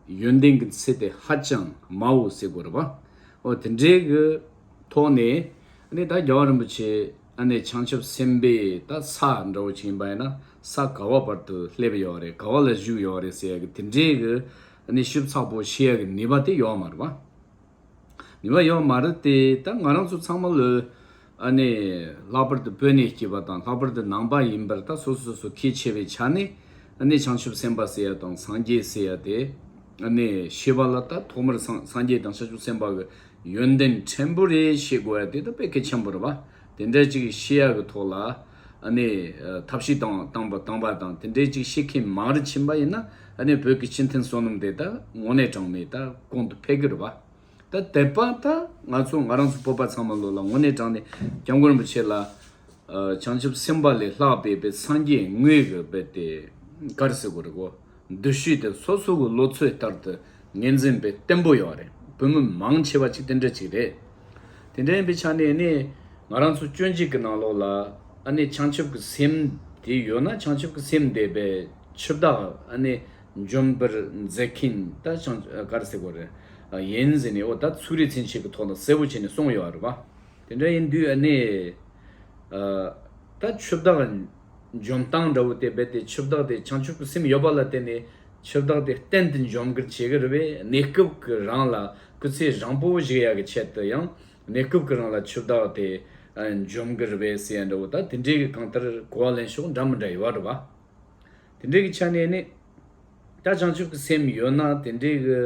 བྱ་ཡོན་ཏན་གི་ཚེ་དེ་ཧ་ཅང་དམའ་བོ་བསད་དགོས་རེད་བ་འོ་དེ་འདྲའི་གི་ཐོག་ནས་ཨ་ནི་ད་རྒྱ་བ་རིན་པོ་ཆེ། ཨ་ནེ་བྱང་ཆུབ་སེམས་དཔས་ད་ས་འདྲ་བོ་བྱིན་པ་ཡིན་ན་ས་ག་བ་བར་དུ་སླེབས་ཡོད་རེད་ག་བ་ལ་བཞུགས་ཡོད་རེད་ཟེར་ཡ་གི་དེ་འདྲའི་གི་ཨ་ནེ་ཤུབ་ཚགས་པོ་བྱེད་ཡ་གི་ནུས་པ་དེ་ཡོད་མ་རེད་བ། ནུས་པ་ཡོད་མ་རེད་དེ་ད་ང་རང་ཚོ་ཚང་མ་ལོས་ཨ་ནེ་ལྷག་པར་དུ་དཔོན་གནས་སྐྱིད་པ་དང་ལྷག་པར་དུ་ནང་པ་ཡིན་པར་ད་སོ་སོ་སོ་གལ་ཆེ་བའི་ཆ་ནས་ཨ་ནེ་བྱང་ཆུབ་སེམས་དཔའ་ཟེར་ཡ་དང་སངས་རྒྱས་ཟེར་ཡ་དེ་ཨ་ནེ་ཤེས་པ་ལ་ད་ཐོག་མར་སངས་རྒྱས་དང་བྱང་ཆུབ་སེམས་དཔའ་གི་ཡོན་ཏན་ཕྲན་བུ་རེ་ཤེས་དགོས་ཡ་དེ་ད་དཔེ་གལ་ཆེན་པོ་རེད་པ། དེ་འདྲ་ཅིག་ཤེས་ཡ་གི་ཐོག་ལ་ནི་ཐབས་ཤེས་དང་སྟངས་པ་སྟངས་པ་དང་དེ་འདྲ་ཅིག་ཤེས་མཁན་མང་རུ་ཕྱིན་པ་ཡིན་ན་ནི་བོད་ཀྱི་སྤྱི་མཐུན་བསོད་ནམས་དེ་ད་དངོས་གནས་གྲངས་མེད་ད་གོང་དུ་འཕེལ་གི་རེད་པ། ད་དེད་པ་ད་ང་ཚོ་ང་རང་ཚོ་བོད་པ་ཚང་མ་ལོ་ལ་དངོས་གནས་དྲངས་ནས་སྐྱབས་མགོན་རིན་པོ་ཆེ་ལ་བྱང་ཆུབ་སེམས་དཔའ་ལས་ལྷག་པའི་བའི་སངས་རྒྱས་དངོས་ཀྱི་བའི་དེ་གར་ཟེར་དགོས་རེད་གོ། འདུ་ཤེས་དེ་སོ་སོ་གི་ལོ་ཚོད་ལྟར་དུ་ངེས་འཛིན་པའི་བརྟན་པོ་ཡོད་རེད་བོད་མི་མང་ཆེ་བ་ཅིག་དེ་འདྲ་ཅིག་རེད། དེ་འདྲ་ཡིན་པའི་ཆ་ནས་ནི་ང་རང་ཚོ་སྐྱོན་ཅིག་གི་ནང་ལོགས་ལ་ཨ་ནི་བྱང་ཆུབ་ཀྱི་སེམས་དེ་ཡོད་ན་བྱང་ཆུབ་ཀྱི་སེམས་དེ་བས་ཆུ་བདག་ཨ་ནི་འཇོམས་པར་མཛད་མཁན་ད་བྱང་སྐར་སེར་པོ་རེད་ཡིན་ཟེར་ནས་འོ་ད་ཚུགས་རེ་ཚན་ཞིག་གི་ཐོག་ལ་གསལ་བོ་བྱས་ནས་སོང་ཡོད་རེད་བ། དེ་འདྲ་ཡིན་དུས་ཨ་ནི་ད་ཆུ་བདག། འཇོམས་སྟངས་འདྲ་བོ་དེ་རྦད་དེ་ཆུ་བདག་དེ་བྱང་ཆུབ་ཀྱི་སེམས་ཡོད་པ་ལ་བརྟེན་ནས་ཆུ་བདག་དེ་གཏན་དུ་འཇོམས་ཀྱི་བྱེད་ཀྱི་རེད་པས་གནས་སྐབས་ཀྱི་རང་ལ་སྐུ་ཚེ་བཟང་པོ་བཞེས་ཡག་གི་ཆེད་དུ་ཡང་གནས་སྐབས་ཀྱི་རང་ལ་ཆུ་བདག་དེ་འཇོམས་ཀྱི་རེད་པས་ཟེར་ཡ་འདྲ་བོ་ད་དེ་འདྲའི་གང་ལྟར་གོ་བ་ལེན་ཕྱོགས་འདྲ་མི་འདྲ་ཡོད་བ་འདྲ་བ། དེ་འདྲའི་ཆ་ནས་ནི། ད་བྱང་ཆུབ་ཀྱི་སེམས་ཡོད་ན་དེ་འདྲའི་གི་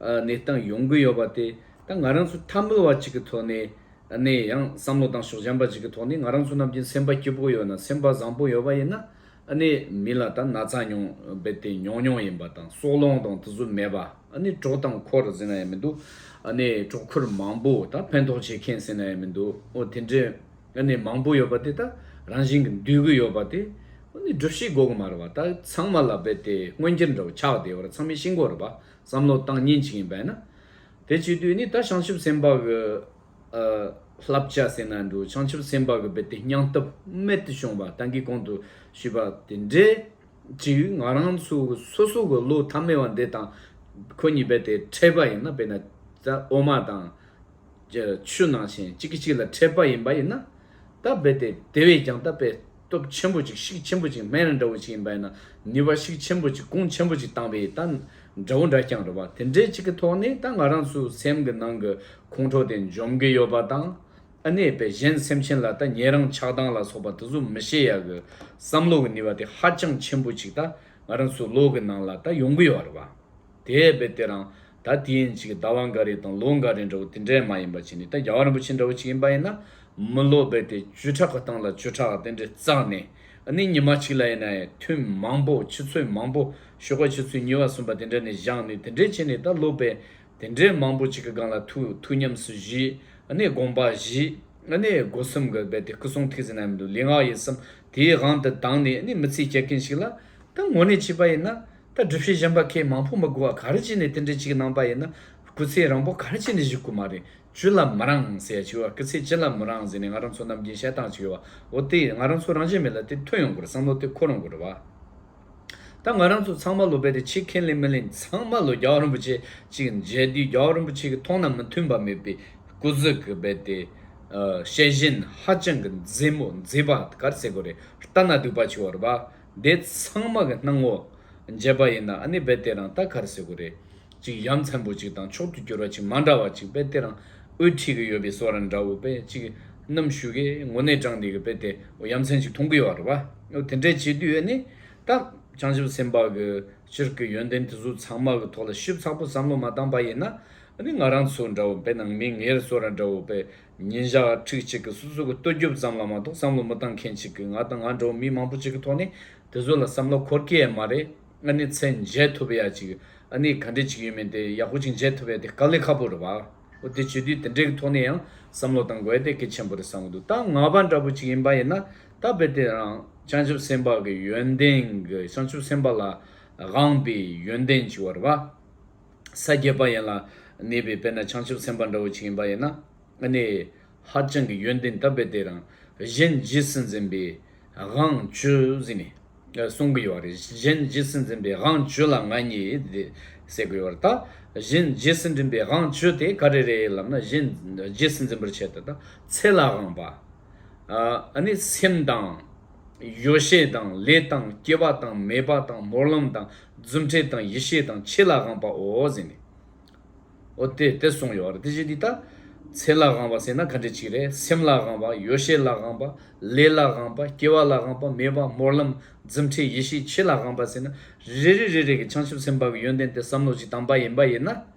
གནས་སྟངས་ཡོང་གི་ཡོད་པ་དེ་ད་ང་རང་ཚོ་ཐ་མིལ་བ་ཅིག་གི་ཐོག་ནས་ནས་ཡང་བསམ་བློ་དང་ཕྱོགས་འཇམ་པ་ཅིག་གི་ཐོག་ནས་ང་རང་ཚོ་རྣམས་ཀྱི་སེམས་པ་སྐྱིད་པོ་ཡོད་ན་སེམས་པ་བཟང་པོ་ཡོད་པ་ཡིན་ན་ནས་མི་ལ་ད་ན་ཚ་མྱོང་རྦད་དེ་མྱོང་མྱོང་ཡིན་པ་དང་སྲོག་རླུང་དང་དུ་ཟུ་མེད་པ་ནས་གྲོགས་དང་འཁོར་ཟེར་ན་ཡང་མི་འདུག་ནས་གྲོགས་འཁོར་མང་པོ་ད་ཕན་ཐོགས་བྱེད་མཁན་ཟེར་ན་ཡང་མི་འདུག་འོ་དེ་འདྲའི། ཡང་ནི་མང་པོ་ཡོད་པ་དེ་དག་རང་བཞིན་གྱིས་འདུས་གྱི་ཡོད་པ་དེ། འོ་ནི་སྒྲུབ་བྱེད་གོ་གི་མ་རེད་བ་དག་ཚང་མ་ལ་བས་དེ་མངོན་གྱུར་འདྲ་བོ་ཆགས་བསྡད་བར་ཚང་མའི་ཤིན་གོ་རེད་བ་བསམ་བློ་བཏང་ཉིན་གཅིག་ཡིན་པས་ན། དེ་བྱེད་དུས་ནི་ད་བྱང་ཆུབ་སེམས་དཔའ་གི། བསླབ་བྱ་ཟེར་ན་འགྲོ་བྱང་ཆུབ་སེམས་དཔའ་གི་བས་དེ་སྙང་སྟོབས་རྨད་དུ་བྱུང་བ་ད་གིས་གོང་དུ་ཞུས་པ་དེ་འདྲའི་གཅིག་ང་རང་ཚོ་གི་སོ་སོ་གི་བློ་ཐ་མལ་བ་འདི་དང་ཁོ་གཉིས་བས་དེ་ཕྲད་པ་ཡིན་ན་བས་ན་ད་འོ་མ་དང། རྒྱལ་ཆུ་ནང་བཞིན་གཅིག་གིས་གཅིག་ལ་འཕྲད་པ་ཡིན་པ་ཡིན་ན། ད་རྦད་དེ་དེ་བས་ཀྱང་ད་རྦད་སྟོབས་ཆེན་པོ་ཅིག་ཤིག་ཆེན་པོ་ཅིག་སྨན་རི་འདྲ་བོ་ཅིག་ཡིན་པ་ཡིན་ན་ནུས་པ་ཤིག་ཆེན་པོ་ཅིག་གུང་ཆེན་པོ་ཅིག་བཏང་བས་ད་འདྲ་བོ་འདྲ་རྐྱང་རེད་བ་དེ་འདྲའི་ཅིག་གི་ཐོག་ནས་ད་ང་རང་ཚོའི་སེམས་ཀྱི་ནང་གི་ཁོང་ཁྲོ་དེ་འཇོམས་ཀྱི་ཡོད་པ་དང། ཨ་ནེ་བས་གཞན་སེམས་ཅན་ལ་ད་ཉེ་རང་ཆགས་སྡང་ལ་སོགས་པ་དེ་ཚོ་མི་བྱེད་ཡ་གི་བསམ་བློ་གི་ནུས་པ་དེ་ཧ་ཅང་ཆེན་པོ་ཅིག་ད་ང་རང་ཚོའི་བློ་གི་ནང་ལ་ད་ཡོང་གི་ཡོད་རེད་བ། དེས་ཡས་པའི་གཏེར་རང། ད་དེ་ཡན་ཆད་ཀྱི་ཟླ་བ་འགའ་རེ་དང་ལོ་འགའ་རེ་འདྲ་བོ་དེ་འདྲའི་མ་ཡིན་པ་བྱས་ནས་ད་རྒྱ་བ་རིན་པོ་ཆེ་འདྲ་བོ་ཅིག་ཡིན་པ་ཡིན་ན། མི་ལོ་རྦད་དེ་བཅུ་ཕྲག་གི་སྟེང་ལ་བཅུ་ཕྲག་དེ་འདྲའི་བརྩགས་ནས། ནི་ཉི་མ་གཅིག་ལ་ཡིན་ན་ཡང་ཐུན་མང་པོ་ཆུ་ཚོད་མང་པོ་ཞོགས་པ་ཆུ་ཚོད་གཉིས་བ་གསུམ་པ་དེ་འདྲ་ནས་བཞག་ནས་དེ་འདྲས་བྱས་ནས་ད་ལོ་རྦད་དེ་འདྲའི་མང་པོ་ཅིག་གི་སྒང་ལ་ཐུག་ཐུག་ཉམས་སུ་བཞེས། ནི་དགོངས་པ་བཞེས། ནི་སྒོ་གསུམ་གྱི་རྦད་དེ་སྐུ་གསུང་ཐུགས་ཟིན་ན་ཡང་མི་འདུག་ལས་སྔགས་ཡིན་བསམ་དེའི་དབང་དུ་བཏང་ནས་ནི་མི་ཚེ་བསྐྱལ་མཁན་ཞིག་ལ། ད་ངོ་ནས་བྱས་པ་ཡིན་ན། ད་སྒྲུབ་བྱེད་གཞན་པ་ཁས་མང་པོ་མི་དགོས་བ་ག་རེ་བྱས་ནས་དེ་འདྲའི་ཅིག་གནང་པ་ཡིན་ན་སྐུ་ཚེ་རང་པོ་ག་རེ་བྱས་ནས་བཞུགས་དགོས་མ་རེད་བཅུ་ལ་མི་རང་ཟེར་ཡ་ཆེ་བ་སྐུ་ཚེ་བཅུ་ལ་མི་རང་ཟེར་ནས་ང་རང་ཚོ་ནམ་རྒྱུན་བཤད་སྟངས་ཅིག་ཡོད་བ་འོ་དེ་ང་རང་ཚོ་རང་བྱས་མེད་ལ་དེ་ཐོན་ཡོང་དགོས་རེད་བསམ་བློ་དེ་འཁོར་ཡོང་དགོས་རེད་བ། ད་ང་རང་ཚོ་ཚང་མ་ལོ་པད་དེ་ཆིག་ཁེན་ལེན་མི་ལེན་ཚང་མ་ལོ་རྒྱ་བ་རིན་པོ་ཆེ་ཅིག་མཇལ་དུས་རྒྱ་བ་རིན་པོ་ཆེ་གི་མཐོང་སྣང་མི་མཐུན་པ་མེད་པའི་སྐུ་གཟུགས་གི་རྦད་དེ་ཤེས་བཞིན་ཧ་ཅང་གི་མཛེས་མོ་མཛེས་པ་ག་རེ་ཟེར་དགོས་རེད་ལྟ་ན་སྡུག་པ་ཆེ་བ་རེད་བ། དེ་ཚང་མ་གི་སྣང་ངོ། འབྱེད་པ་ཡིན་ན་ཨ་ནི་རྦད་དེ་རང་ལྟ་གར་ཟེར་གོ་རེད། ཅིག་ཡ་མཚན་པོ་ཅིག་དང་མཆོག་ཏུ་གྱུར་བ་ཅིག་མ་འདྲ་བ་ཅིག་རྦད་དེ་རང་འུར་ཁྲིད་གི་ཡོད་པའི་སོ་ར་འདྲ་བོ་རྦད་ཅིག་ནམ་བཞུགས་གི་ངོ་ནས་བགྲང་དེ་གི་རྦད་དེ་འོ་ཡ་མཚན་ཅིག་མཐོང་གི་ཡོད་རེད་བ། དེ་འདྲའི་བྱེད་དུས་ཨ་ནི་ད་བྱང་ཆུབ་སེམས་དཔའ་གི་སྤྱིར་གི་ཡོན་ཏན་དེ་ཚོ་ཚང་མ་གི་ཐོག་ལ་ཞིབ་ཚགས་པོ་བསམ་བློ་མ་བཏང་བ་ཡིན་ན་ཨ་ནི་ང་རང་ཚོ་འདྲ་བོ་རྦད་ནང་མི་ངེར་སོ་ར་འདྲ་བོ་རྦད་ཉིན་ཞག་ཁྲིག་གཅིག་གི་སོ་སོ་གི་ལྟོ་རྒྱུབ་ཙམ་ལ་མ་གཏོགས་བསམ་བློ་མི་བཏང་མཁན་ཅིག་གི་ང་དང་ང་འདྲ་བོ་མི་མང་པོ་ཅིག་གི་ཐོག་ནས་དེ་ཚོ་ལ་བསམ་བློ་འཁོར་གྱི་ཡས་མ་རེད་ཨ་ནི་ཚེ་མཇལ་ཐུབ་ཡ་ཅིག་ཨ་ནི་ག་འདྲེ་ཅིག་ཡོད་མིན་དེ་ཡག་པོ་ཅིག་མཇལ་ཐུབ་ཡ་དེ་དཀའ་ལས་ཁ་པོ་རེད་བ་འོ་དེ་བྱེད་དུས་དེ་འདྲེ་གི་ཐོག་ནས་ཡང་བསམ་བློ་བཏང་དགོས་ཡ་དེ་གལ་ཆེན་པོ་རེད་བསམ་གི་འདུག་ད་ང་བ་འདྲ་བོ་ཅིག་ཡིན་པ་ཡིན་ན་ད་དཔེ་དེ་རང་བྱང་ཆུབ་སེམས་དཔའ་གི་ཡོན་ཏན་གི་བྱང་ཆུབ་སེམས་དཔའ་ལ་དབང་པའི་ཡོན་ཏན་ཅིག་བ་རེད་བ། ས་བརྒྱད་པ་ཡན་ལ་གནས་པའི་དཔེར་ན་བྱང་ཆུབ་སེམས་དཔའ་འདྲ་བོ་ཅིག་ཡིན་པ་ཡིན་ན། གནས་ཧ་ཅང་གི་ཡོན་ཏན་དམ་པའི་སྡེ་རང་གཞན་རྗེས་སུ་འཛིན་པའི་དབང་བཅུ་ཟིན་ནས་གསུང་གི་ཡོད་པ་རེད། གཞན་རྗེས་སུ་འཛིན་པའི་དབང་བཅུ་ལ་ང་ཉིད་དེ་ཟེར་གི་ཡོད་པ་རེད། ད་གཞན་རྗེས་སུ་འཛིན་པའི་དབང་བཅུ་དེ་ག་རེ་རེད་ལབ་ན་གཞན་རྗེས་སུ་འཛིན་པར་བྱེད་དོ། ཚེ་ལའང་བ། སེམས་དང། ཡོ་བྱད་དང་ལས་དང་སྐྱེ་བ་དང་མེད་པ་དང་མོར་ལམ་དང་རྫུ་འཕྲལ་དང་ཡེ་ཤེས་དང་ཆེས་ལ་དབང་པའོ་ཟེར་ནས། ཨོ་དེ་དེ་གསུངས་ཡོད་རེད་དེ་བཞིན་དུ་ད། ཚེ་ལ་དབང་བ་ཟེར་ན་ག་འདྲའི་ཆིག་རེད་སེམས་ལ་དབང་བ་ཡོ་བྱད་ལ་དབང་བ་ལས་ལ་དབང་བ་སྐྱེ་བ་ལ་དབང་བ་མེད་པ་མོར་ལམ་རྫུ་འཕྲལ་ཡེ་ཤེས་ཆེས་ལ་དབང་བ་ཟེར་ན་རེ་རེ་རེ་རེ་གི་བྱང་ཆུབ་སེམས་དཔའ་གི་ཡོན་ཏན་དེ་བསམ་བློ་གཅིག་དང་པ་ཡིན་པ་ཡིན་ན།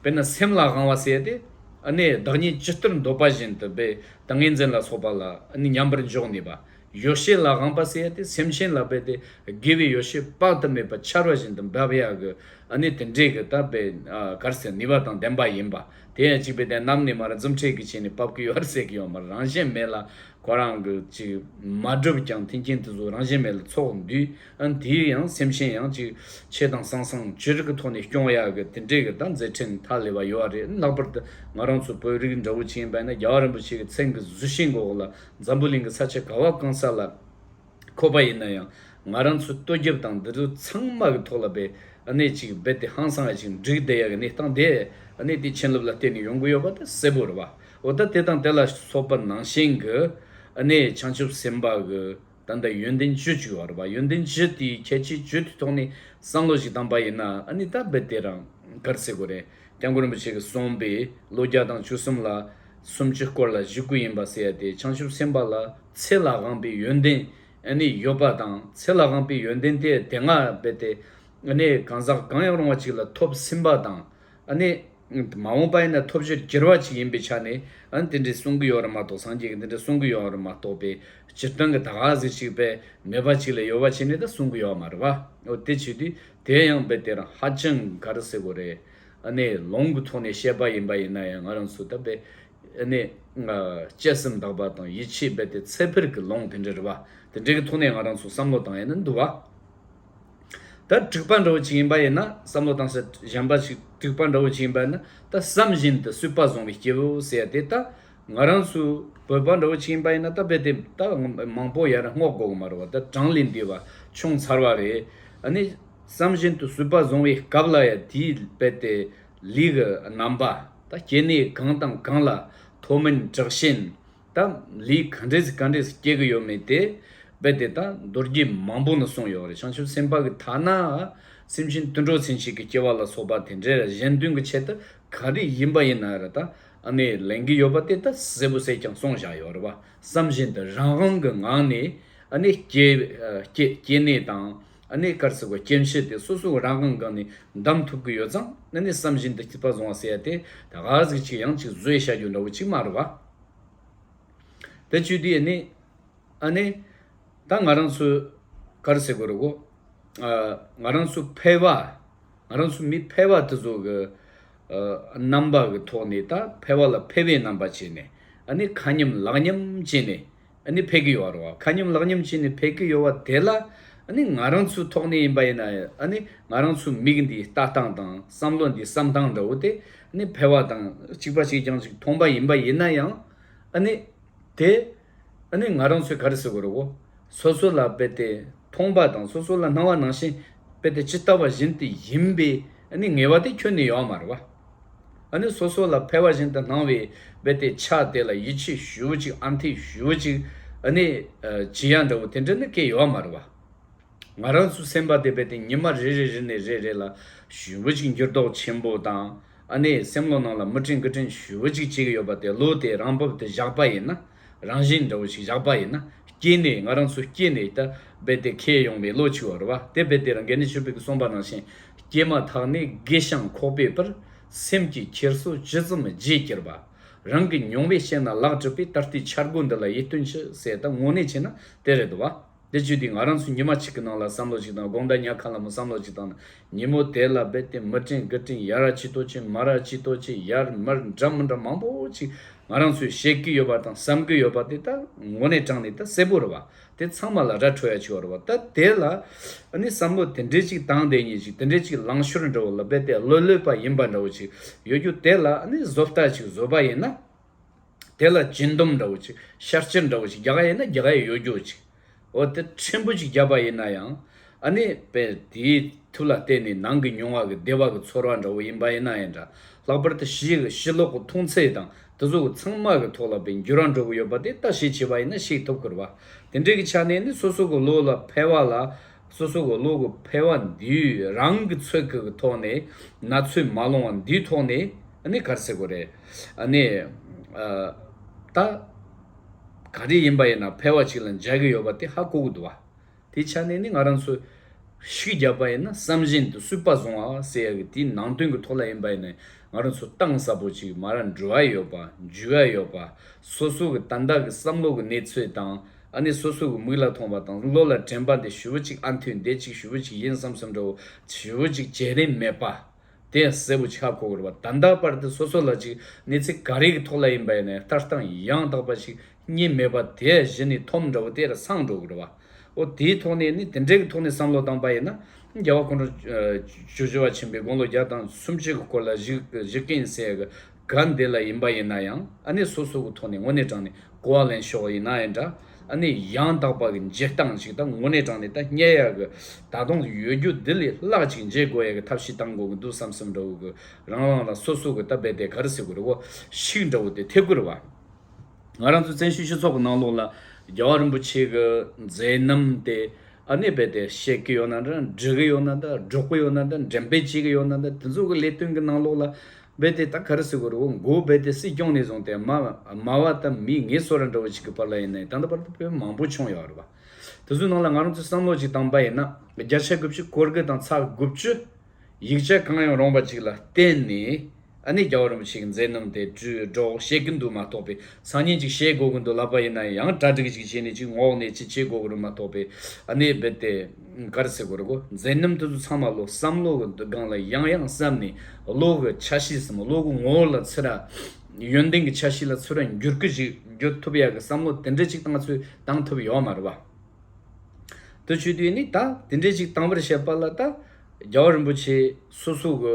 དཔེར་ན་སེམས་ལ་དབང་བ་བསལ་ཏེ། བདག་ཉིད་ཇི་ལྟར་འདོད་པ་བཞིན་དུ་སྦས་དང་ངེས་འཛིན་ལ་སོགས་པ་ལ་མཉམ་པར་འཇོག་ནུས་པ། ཡོ་བྱད་ལ་དབང་བ་བསལ་ཏེ་སེམས་ཅན་ལ་སྦས་ཏེ་དགེ་བའི་ཡོ་བྱད་དཔག་ཏུ་མེད་པ་ཆར་བ་བཞིན་དུ་འབབ་ཡང་གི། དེ་འབྲས་ཀྱི་དག་པའི་གར་སའི་ནུས་པ་དང་ལྡན་པ་ཡིན་པ། དེ་ཡང་གཅིག་པའི་རྟེན་རྣམས་ནི་མ་ར་འཛུམ་འཁྲིག་གི་བྱས་ནས་བབ་ཀྱི་ཡོ་བར་ཟད་ཀྱི་ཡོ་མ་རང་བཞིན་མེད་ལ། ཁོ་རང་གི་ཅིག་མ་གྲུབ་ཀྱང་མཐིང་གིན་དུ་གཟུགས་རང་བཞིན་མེད་ལ་ཚོགས་འདུས་འདིའི་ཡང་སེམས་ཤེན་ཡང་ཅིག། ཆེ་དང་སང་སང་ཇི་རིགས་ཀྱི་ཐོག་ནས་སྐྱོང་ཡག་གི་དེ་འདྲས་ཀྱི་ད་མཛད་འཕྲིན་མཐའ་ལས་པ་ཡོད་བ་རེད་ལྷག་པར་དུ་ང་རང་ཚོ་བོད་རིགས་འདྲ་བོ་ཅིག་ཡིན་པས་ན་རྒྱ་བ་རིན་པོ་ཆེ་གི་མཚན་གི་གཟུ་ཤིང་གི་འོག་ལ་འཛམ་བུ་གླིང་གི་ས་ཆ་ག་བ་གང་ས་ལ་འཁོད་པ་ཡིན་ན་ཡང་ང་རང་ཚོའི་ལྟོ་རྒྱབ་དང་འདི་ལོ་ཚང་མ་གི་ཐོག་ལ་པའི་གནས་ཅིག་རྦད་དེ་ཧང་སང་ཡ་ཅིག་འགྲིག་བསྡད་ཡག་གི་གནས་སྟངས་དེ་གནས་དེ་ཆན་ལུབ་ལ་བརྟེན་ནས་ཡོང་གི་ཡོད་པ་དེ་གསལ་པོ་རེད་བ་འོ་ད་དེ་དང་དེ་ལ་སོགས་པ་ནང་བཞིན་གི་གནས་བྱང་ཆུབ་སེམས་དཔའ་གི་ད་ལྟ་ཡོན་ཏན་བཅུ་བཅུ་བར་པ་ཡོན་ཏན་བཅུ་དེའི་ཁྱད་ཆོས་བཅུ་དེ་ཐོག་ནས་བསམ་བློ་ཞིག་བཏང་པ་ཡིན་ན་ཨ་ནི་ད་བེད་དེ་རང་གར་སེ་གོ་རེད་སྐྱབས་མགོན་རིན་པོ་ཆེ་གི་གསུངས་པའི་ལོ་བརྒྱ་དང་བཅུ་གསུམ་ལ་སུམ་ཅུ་སྐོར་ལ་བཞི་དགུ་ཡིན་པ་ཟེར་ཡ་དེ་བྱང་ཆུབ་སེམས་དཔའ་ལ་ཚེ་ལ་དབང་པའི་ཡོན་ཏན་ཨ་ནི་ཡོད་པ་དང་ཚེ་ལ་དབང་པའི་ཡོན་ཏན་དེ་དེ་སྔར་བེད་དེ་ཨ་ནི་གང་ཟག་གང་ཡང་རུང་བ་ཅིག་ལ་ཐོབ་ཟིན་པ་དང། ཨ་ནི། མ་འོངས་པ་ཡིན་ན་ཐོབ་བྱའི་གྱེར་བ་ཅིག་ཡིན་པའི་ཆ་ནས་ཨ་ནི་དེ་འདྲའི་གསུང་གི་ཡོད་རེད་མ་གཏོགས་སངས་རྒྱས་ཀྱི་འདི་འདྲའི་གསུང་གི་ཡོད་རེད་མ་གཏོགས་པའི་སྤྱིར་བཏང་གི་ད་ག་ཟིག་ཅིག་པའི་ནུས་པ་ཅིག་ལས་ཡོལ་བ་བྱས་ནས་ད་གསུང་གི་ཡོད་མ་རེད་པ་འོ་དེ་བྱེད་དུས་དེའི་ཡང་དཔེ་དེ་རང་ཧ་ཅང་ག་རེ་ཟེར་དགོས་རེད་ཨ་ནི་ལོང་གི་ཐོག་ནས་བཤད་པ་ཡིན་པ་ཡིན་ན་ཡང་ང་རང་ཚོ་ད་དཔེ་ཨ་ནི། དཔྱད་སེམས་དག་པ་དང་ཡིད་ཆེས་རྦད་དེ་ཚད་འཕེར་གྱི་ལོང་དེ་འདྲ་རེད་པ་དེ་འདྲའི་གི་ཐོག་ནས་ང་རང་ཚོ་བསམ་བློ་བཏང་ཡས་ན་འདུག་བ། ད་དྲུག་པ་འདྲ་བོ་ཅིག་ཡིན་པ་ཡིན་ན་བསམ་བློ་བཏང་ཟེར་གཞན་པ་ཞིག་དྲུག་པ་འདྲ་བོ་ཅིག་ཡིན་པ་ཡིན་ན་ད་བསམ་བཞིན་དུ་སུས་དཔའ་བཟང་བའི་སྐྱེ་བོ་ཟེར་དེ་ད་ང་རང་ཚོའི་བོད་པ་འདྲ་བོ་ཅིག་ཡིན་པ་ཡིན་ན་ད་རྦད་དེ་ད་མང་པོ་ཡར་སྔོག་དགོས་གི་མ་རེད་བ་ད་གྲངས་ལས་འདས་བ་བྱུང་ཚར་བ་རེད་ཨ་ནི་བསམ་བཞིན་དུ་སུས་དཔའ་བཟང་བའི་སྐབས་ལ་ཡང་དེའི་རྦད་དེ་ལུས་ཀྱི་རྣམ་པ་ད་སྐྱེ་གནས་གང་དང་གང་ལ་མཐོ་དམན་དྲག་ཞན། ད་ལིས་ག་འདྲས་ག་འདྲས་སུ་སྐྱེལ་གི་ཡོད་མེད་དེ་རྦད་དེ་ད་མདོར་རྒྱས་མང་པོ་ནས་གསུངས་ཡོད་རེད་བྱང་ཆུབ་སེམས་དཔའ་གི་ཐ་ན་སེམས་ཅན་དུད་འགྲོ་ཚན་ཞིག་གི་སྐྱེ་བ་ལ་སོགས་པ་དེ་འདྲས་གཞན་དོན་གི་ཆེད་དུ་ག་རེ་ཡིན་པ་ཡིན་ན་རེད་ད་ཨ་མས་ལེན་གི་ཡོད་པ་དེ་ད་གསལ་པོ་གསལ་རྐྱང་གསུངས་བཞག་ཡོད་རེད་བ་བསམ་བཞིན་དུ་རང་དབང་གི་ངང་ནས་ཨ་ནས་སྐྱེ་གནས་དང་ཨ་ནས་སྐར་ཚིག་གི་སྐྱེ་འཕྱི་དེ་སོ་སོ་རང་དབང་གང་ནས་འདམ་ཐུབ་གི་ཡོད་ཙང་ཨ་ནས་བསམ་བཞིན་དུ་སྐྱིད་པ་བཟུང་བ་ཟེར་ཡ་དེ་ད་ག་ཟིག་ཅིག་ཡང་ཅིག་བཟོས་བཞག་རྒྱུ་འདྲ་བོ་ཅིག་མ་རེད་བ། དེ་བཅུད་དེ་ནི་ཨ་ནི། ད་ང་རང་ཚོས་གར་སེ་གོ་རེ་གོ། ང་རང་ཚོ་ཕལ་བ། ང་རང་ཚོ་མི་ཕལ་བ་དེ་ཚོ་གི། རྣམ་པ་གི་ཐོག་ནས་ད་ཕལ་བ་ལ་ཕལ་བའི་རྣམ་པ་བྱས་ནས། ཨ་ནི་ཁ་ཉམས་ལག་ཉམས་བྱས་ནས། ནི་ཕས་ཀི་ཡོའ་རོ་ཁ་ཉམས་ལག་ཉམས་བྱས་ནི་ཕས་ཀི་ཡོའ་དེ་ལ་ནི་ང་རང་ཚོའི་ཐོག་ནས་ཡིན་པ་ཡིན་ན་ནི་ང་རང་ཚོའི་མིག་འདི་ལྟ་སྟངས་དང་བསམ་བློ་འདི་བསམ་སྟངས་འདྲ་བོ་དེ་ནི་ཕལ་བ་དང་གཅིག་པ་ཞིག་ཀྱང་ཅིག་མཐོང་པ་ཡིན་པ་ཡིན་ན་ཡང་ནི་དེ་ནི་ང་རང་ཚོས་ག་རེ་ཟེར་དགོས་རོ་སོ་སོ་ལ་དཔེ་དེ་མཐོང་པ་དང་སོ་སོ་ལ་སྣང་བ་ནང་བཞིན་དཔེ་དེ་ཇི་ལྟ་བ་བཞིན་དེ་ཡིན་པའི་ནི་ངེས་བ་དེ་ཁྱོན་ནས་ཡོའ་མ་རེད་བ། ཨ་ནི་སོ་སོ་ལ་ཕལ་བ་བཞིན་དུ་སྣང་བས་བས་དེ་ཆགས་དེ་ལ་ཡིད་ཆེས་ཞུའོ་ཅིག་ཨ་འཐས་ཞུའོ་ཅིག་ཨ་ནི། བྱི་ཡ་འདྲ་བོ་དེ་འདྲ་ནི་སྐད་ཡོད་མ་རེད་བ། ང་རང་ཚོ་སེམས་པ་དེ་བས་དེ་ཉི་མ་རེ་རེ་རེ་ནས་རེ་རེ་ལ་ཞུའོ་ཅིག་འགྱུར་ལྡོག་ཆེན་པོ་དང་ཨ་ནི་སེམས་བློ་ནང་ལ་མི་དྲན་གི་དྲན་ཞུའོ་ཅིག་བྱེད་ཀྱི་ཡོད་པ་དེ་བློ་དེ་རང་བབ་དེ་བཞག་པ་ཡིན་ན་རང་བཞིན་འདྲ་བོ་ཞིག་བཞག་པ་ཡིན་ན་སྐྱེས་ནས་ང་རང་ཚོ་སྐྱེས་ནས་ད་རྦད་དེ་ཁེལ་ཡོང་བའི་ལོ་ཆིག་བར་བ་དེ་རྦད་དེ་རང་གནས་ཆོས་འཕེལ་གྱི་གསུངས་པ་ནང་བཞིན་སྐྱེས་མ་ཐག་ནས་དགེ་ཞང་ཁོག་པའི་བར་སེམས་ཀྱི་འཁྱེར་སོ་ཇི་ཙམ་རྗེས་ཀྱིར་བ། རང་གི་མྱོང་བས་བཤད་ན་ལག་གྲུབ་པའི་ད་ལྟའི་འཆར་སྒོ་འདི་ལ་ཡིད་རྟོན་ཅི་ཟེར་ད་དངོས་གནས་བྱས་ན་དེ་རེད་བ། འདི་བརྗོད་དུས་ང་རང་ཚོ་ཉི་མ་གཅིག་གི་ནང་ལ་བསམ་བློ་གཅིག་དང་དགོངས་དག་ཉག་ག་ལ་མོ་བསམ་བློ་གཅིག་དང་ན། ཉིན་མོ་དེ་ལ་རྦད་དེ་མི་དྲན་དགུ་དྲན་ཡ་ར་ཅི་ཏོ་ཅི་མ་ར་ཅི་ཏོ་ཅི་ཡར་མར་འདྲ་མི་འདྲ་མང་པོ་ཅིག་ང་རང་ཚོས་བཤད་གི་ཡོད་པ་དང་བསམ་གི་ཡོད་པ་དེ་དག་ངོ་ནས་དྲངས་ནས་ད་གསལ་པོ་རེད་བ། དེ་ཚང་མ་ལ་ར་འཕྲོད་ཡ་ཆེ་བ་རེད་བ་ད་དེ་ལ་ནི་བསམ་བློ་དེ་འདྲའི་ཅིག་བཏང་དེ་ཉིན་ཅིག་དེ་འདྲའི་ཅིག་ལང་ཤོར་འདྲ་བོ་ལ་རྦད་དེ་ལོས་ལོས་པ་ཡིན་པ་འདྲ་བོ་ཅིག་ཡོད་རྒྱུ་དེ་ལ་ནི་བཟོ་ལྟ་ཅིག་བཟོས་པ་ཡིན་ན། དེ་ལ་སྦྱིན་སྡོམ་འདྲ་བོ་ཅིག་ཤར་སྐྱེར་འདྲ་བོ་ཅིག་རྒྱ་ག་ཡིན་ན་རྒྱ་ག་ཡི་ཡོ་རྒྱོ་ཅིག་འོ་དེ་ཕྲན་བུ་ཅིག་བརྒྱབ་པ་ཡིན་ན་ཡང་ཨ་ནི་བས་དེའི་ཐུགས་ལ་བརྟེན་ནས་ནང་གི་མྱོང་བ་གི་བདེ་བ་གི་ཚོར་བ་འདྲ་བོ་ཡིན་པ་ཡིན་ན་ཡང་འདྲ་ལྷག་པར་དུ་ཞི་གི་ཞི་ལོག་གི་མཐོང་ཚད་དང་དེ་ཚོ་གི་ཚང་མ་གི་ཐོག་ལ་བས་འགྱུར་བ་འགྲོ་གི་ཡོད་པ་དེ་ལྟ་ཞིག་བྱས་པ་ཡིན་ན་ཤེས་ཐུབ་ཁུར་བ་དེ་འདྲའི་གི་ཆ་ནས་ནི་སོ་སོ་གི་བློ་ལ་ཕལ་བ་ལ་སོ་སོ་གི་བློ་གི་འཕེལ་བ་འདིའི་རང་གི་ཚོད་དགག་གི་ཐོག་ནས་ན་ཚོད་མ་ལོང་བ་འདིའི་ཐོག་ནས་ནི་གར་སེ་གོ་རེད། ནི། ད། ག་རེ་ཡིན་པ་ཡིན་ན་འཕེལ་བ་ཅིག་ལ་འཇལ་གི་ཡོད་པ་དེ་ཧ་གོ་གི་འདུག་བ། དེའི་ཆ་ནས་ནི་ང་རང་ཚོས། ཤིག་བརྒྱབ་པ་ཡིན་ན་བསམ་བཞིན་དུ་སུས་པ་བཟུང་བ་ཟེར་ཡ་གི་དེའི་ནང་དོན་གི་ཐོག་ལ་ཡིན་པ་ཡིན་ན་ང་རང་ཚོ་གཏང་ས་པོ་ཅིག་མ་ར་འགྲོ་ཡ་ཡོད་པ་འཇུ་ཡ་ཡོད་པ། སོ་སོ་གི་ཏན་ཏག་གི་བསམ་བློ་གི་གནས་ཚུལ་དང་ཨ་ནི་སོ་སོ་གི་མིག་ལ་མཐོང་བ་དང་བློ་ལ་དྲན་པ་འདི་ཞུ་བོ་ཅིག་ཨ་མཐུས་འདས་ཅིག་ཞུ་བོ་ཅིག་ཡིན་བསམ་བསམ་འདྲ་བོ་ཞུ་བོ་ཅིག་བྱེད་རིན་མེད་པ། དེ་གསལ་བོ་ཆགས་གོ་དགོས་རེད་པ་ད་ལྟ་བར་དུ་སོ་སོ་ལ་ཅིག་གནས་ཚིག་ག་རེ་གི་ཐོག་ལ་ཡིན་པ་ཡིན་ནའི་ལྟ་སྟངས་ཡང་དག་པ་ཞིག་རྙེད་མེད་པ་དེ་གཞི་ནས་ཐོམ་འདྲ་བོ་དེར་སངས་འགྲོ་གི་རེད་བ། ཨོ་དེའི་ཐོག་ནས་ནི་དེ་འདྲའི་གི་ཐོག་ནས་བསམ་བློ་བཏང་པ་ཡིན་ན་རྒྱལ་བ་ཁོང་ཁྲོ་ཆོས་བྱེ་བ་ཆེན་པོའི་དགུང་ལོ་བརྒྱ་དང་སུམ་ཅུ་གི་སྐོར་ལ་གཞིག་གིན་བསྲེས་གི་ག་འདི་ལ་ཡིན་པ་ཡིན་ན་ཡང་ཨ་ནེ་སོ་སོ་གི་ཐོག་ནས་དངོས་གནས་དྲངས་ནས་གོ་བ་ལེན་ཤོག་ཡིན་ནའི་འདྲ། ཨ་ནེ་ཡང་དག་པ་གི་འཇིག་སྟངས་ཞིག་དང་དངོས་གནས་དྲངས་ནས་ད་སྙད་ཡག་གི་ད་དུང་ཡོད་རྒྱུ་འདི་ལས་སླག་ཅིག་མཇལ་དགོས་ཡག་གི་ཐབས་ཤིག་གཏང་དགོས་གི་འདུག་བསམ་བསམ་འདྲ་བོ་གི་རང་རང་ལ་སོ་སོ་གི་ད་རྦད་དེ་ག་རི་སེ་གུ་རི་བོ་ཞིག་འདྲ་བོ་དེ་ཐེབས་གི་རེད་བ། ང་རང་ཚོའི་བཙན་བྱོལ་སྤྱི་ཚོགས་གི་ནང་ལོགས་ལ་རྒྱལ་བ་རིན་པོ་ཆེ་གི་མཛད་རྣམ་དེ་ཨ་ནེ་རྦད་དེ་བཤད་གི་ཡོད་ན་འདྲ་འབྲི་གི་ཡོད་ན་འདྲ་སྒྲོག་གི་ཡོད་ན་འདྲ་འགྲེམ་སྤེལ་བྱེད་གི་ཡོད་ན་འདྲ་དེ་ཚོ་གི་ལས་དོན་གི་ནང་ལོགས་ལ་རྦད་དེ་ད་ག་རེ་སེ་གོ་རེ་བོ་མགོ་རྦད་དེ་སྲིད་སྐྱོང་ནས་བཟུང་སྟེ་མ་མ་བ་ད་མི་ངེད་སོ་ར་འདྲ་བོ་ཅིག་གི་བར་ལ་ཡིན་ནའི་ད་ལྟ་བར་དུ་བོད་མི་མང་པོ་ཆོངས་ཡོད་ཨ་རེ་བ། དེ་ཚོའི་ནང་ལ་ང་རང་ཚོས་བསམ་བློ་ཅིག་བཏང་པ་ཡིན་ན་བརྒྱ་ཆ་དགུ་བཅུ་གོར་དགུ་དང་ཚ་དགུ་བཅུ་ཡིག་ཆ་གང་ཡང་རུང་བ་ཅིག་ལ་བརྟེན་ནས་ཨ་ནེ་རྒྱ་བོ་རིན་པོ་ཆེ་གི་མཛད་རྣམ་དེ་བྲིས་སྒྲོག་བཤད་གི་འདུག་མ་གཏོགས་པའི་སང་ཉིན་ཅིག་བཤད་དགོས་ཀྱི་འདུག་ལབ་པ་ཡིན་ན་ཡང་གྲ་སྒྲིག་ཅིག་བྱས་ནས་ཅིག་ངོགས་ནས་ཅིག་བྱེད་དགོས་ཀྱི་རུང་མ་གཏོགས་པའི་ཨ་ནེ་རྦད་དེ། མགར་ཚེ་གུ་རུ་གོ་མཛེས་རྣམ་ཐོས་སུ་ཚང་མ་བློ་བསམ་བློ་གི་སྒང་ལ་ཡང་ཡང་བསམ་ནས་བློ་གི་ཆ་ཤས་སམ་བློ་གི་ངོ་བོ་ལ་ཚུད་ན། ཡོན་ཏན་གྱི་ཆ་ཤས་ལ་ཚུད་ར་འགྱུར་གི་ཞིག་འགྱུར་ཐུབ་ཡག་གི་བསམ་བློ་དེ་འདྲ་ཅིག་བཏང་ཚུལ་བཏང་ཐུབ་ཡོག་མ་རེད་བ། དུ་ཆུ་དུས་ནི་ད་དེ་འདྲ་ཅིག་བཏང་བར་བཤད་པ་ལ་ད་རྒྱལ་བ་རིན་པོ་ཆེ་སོ་སོ་གི་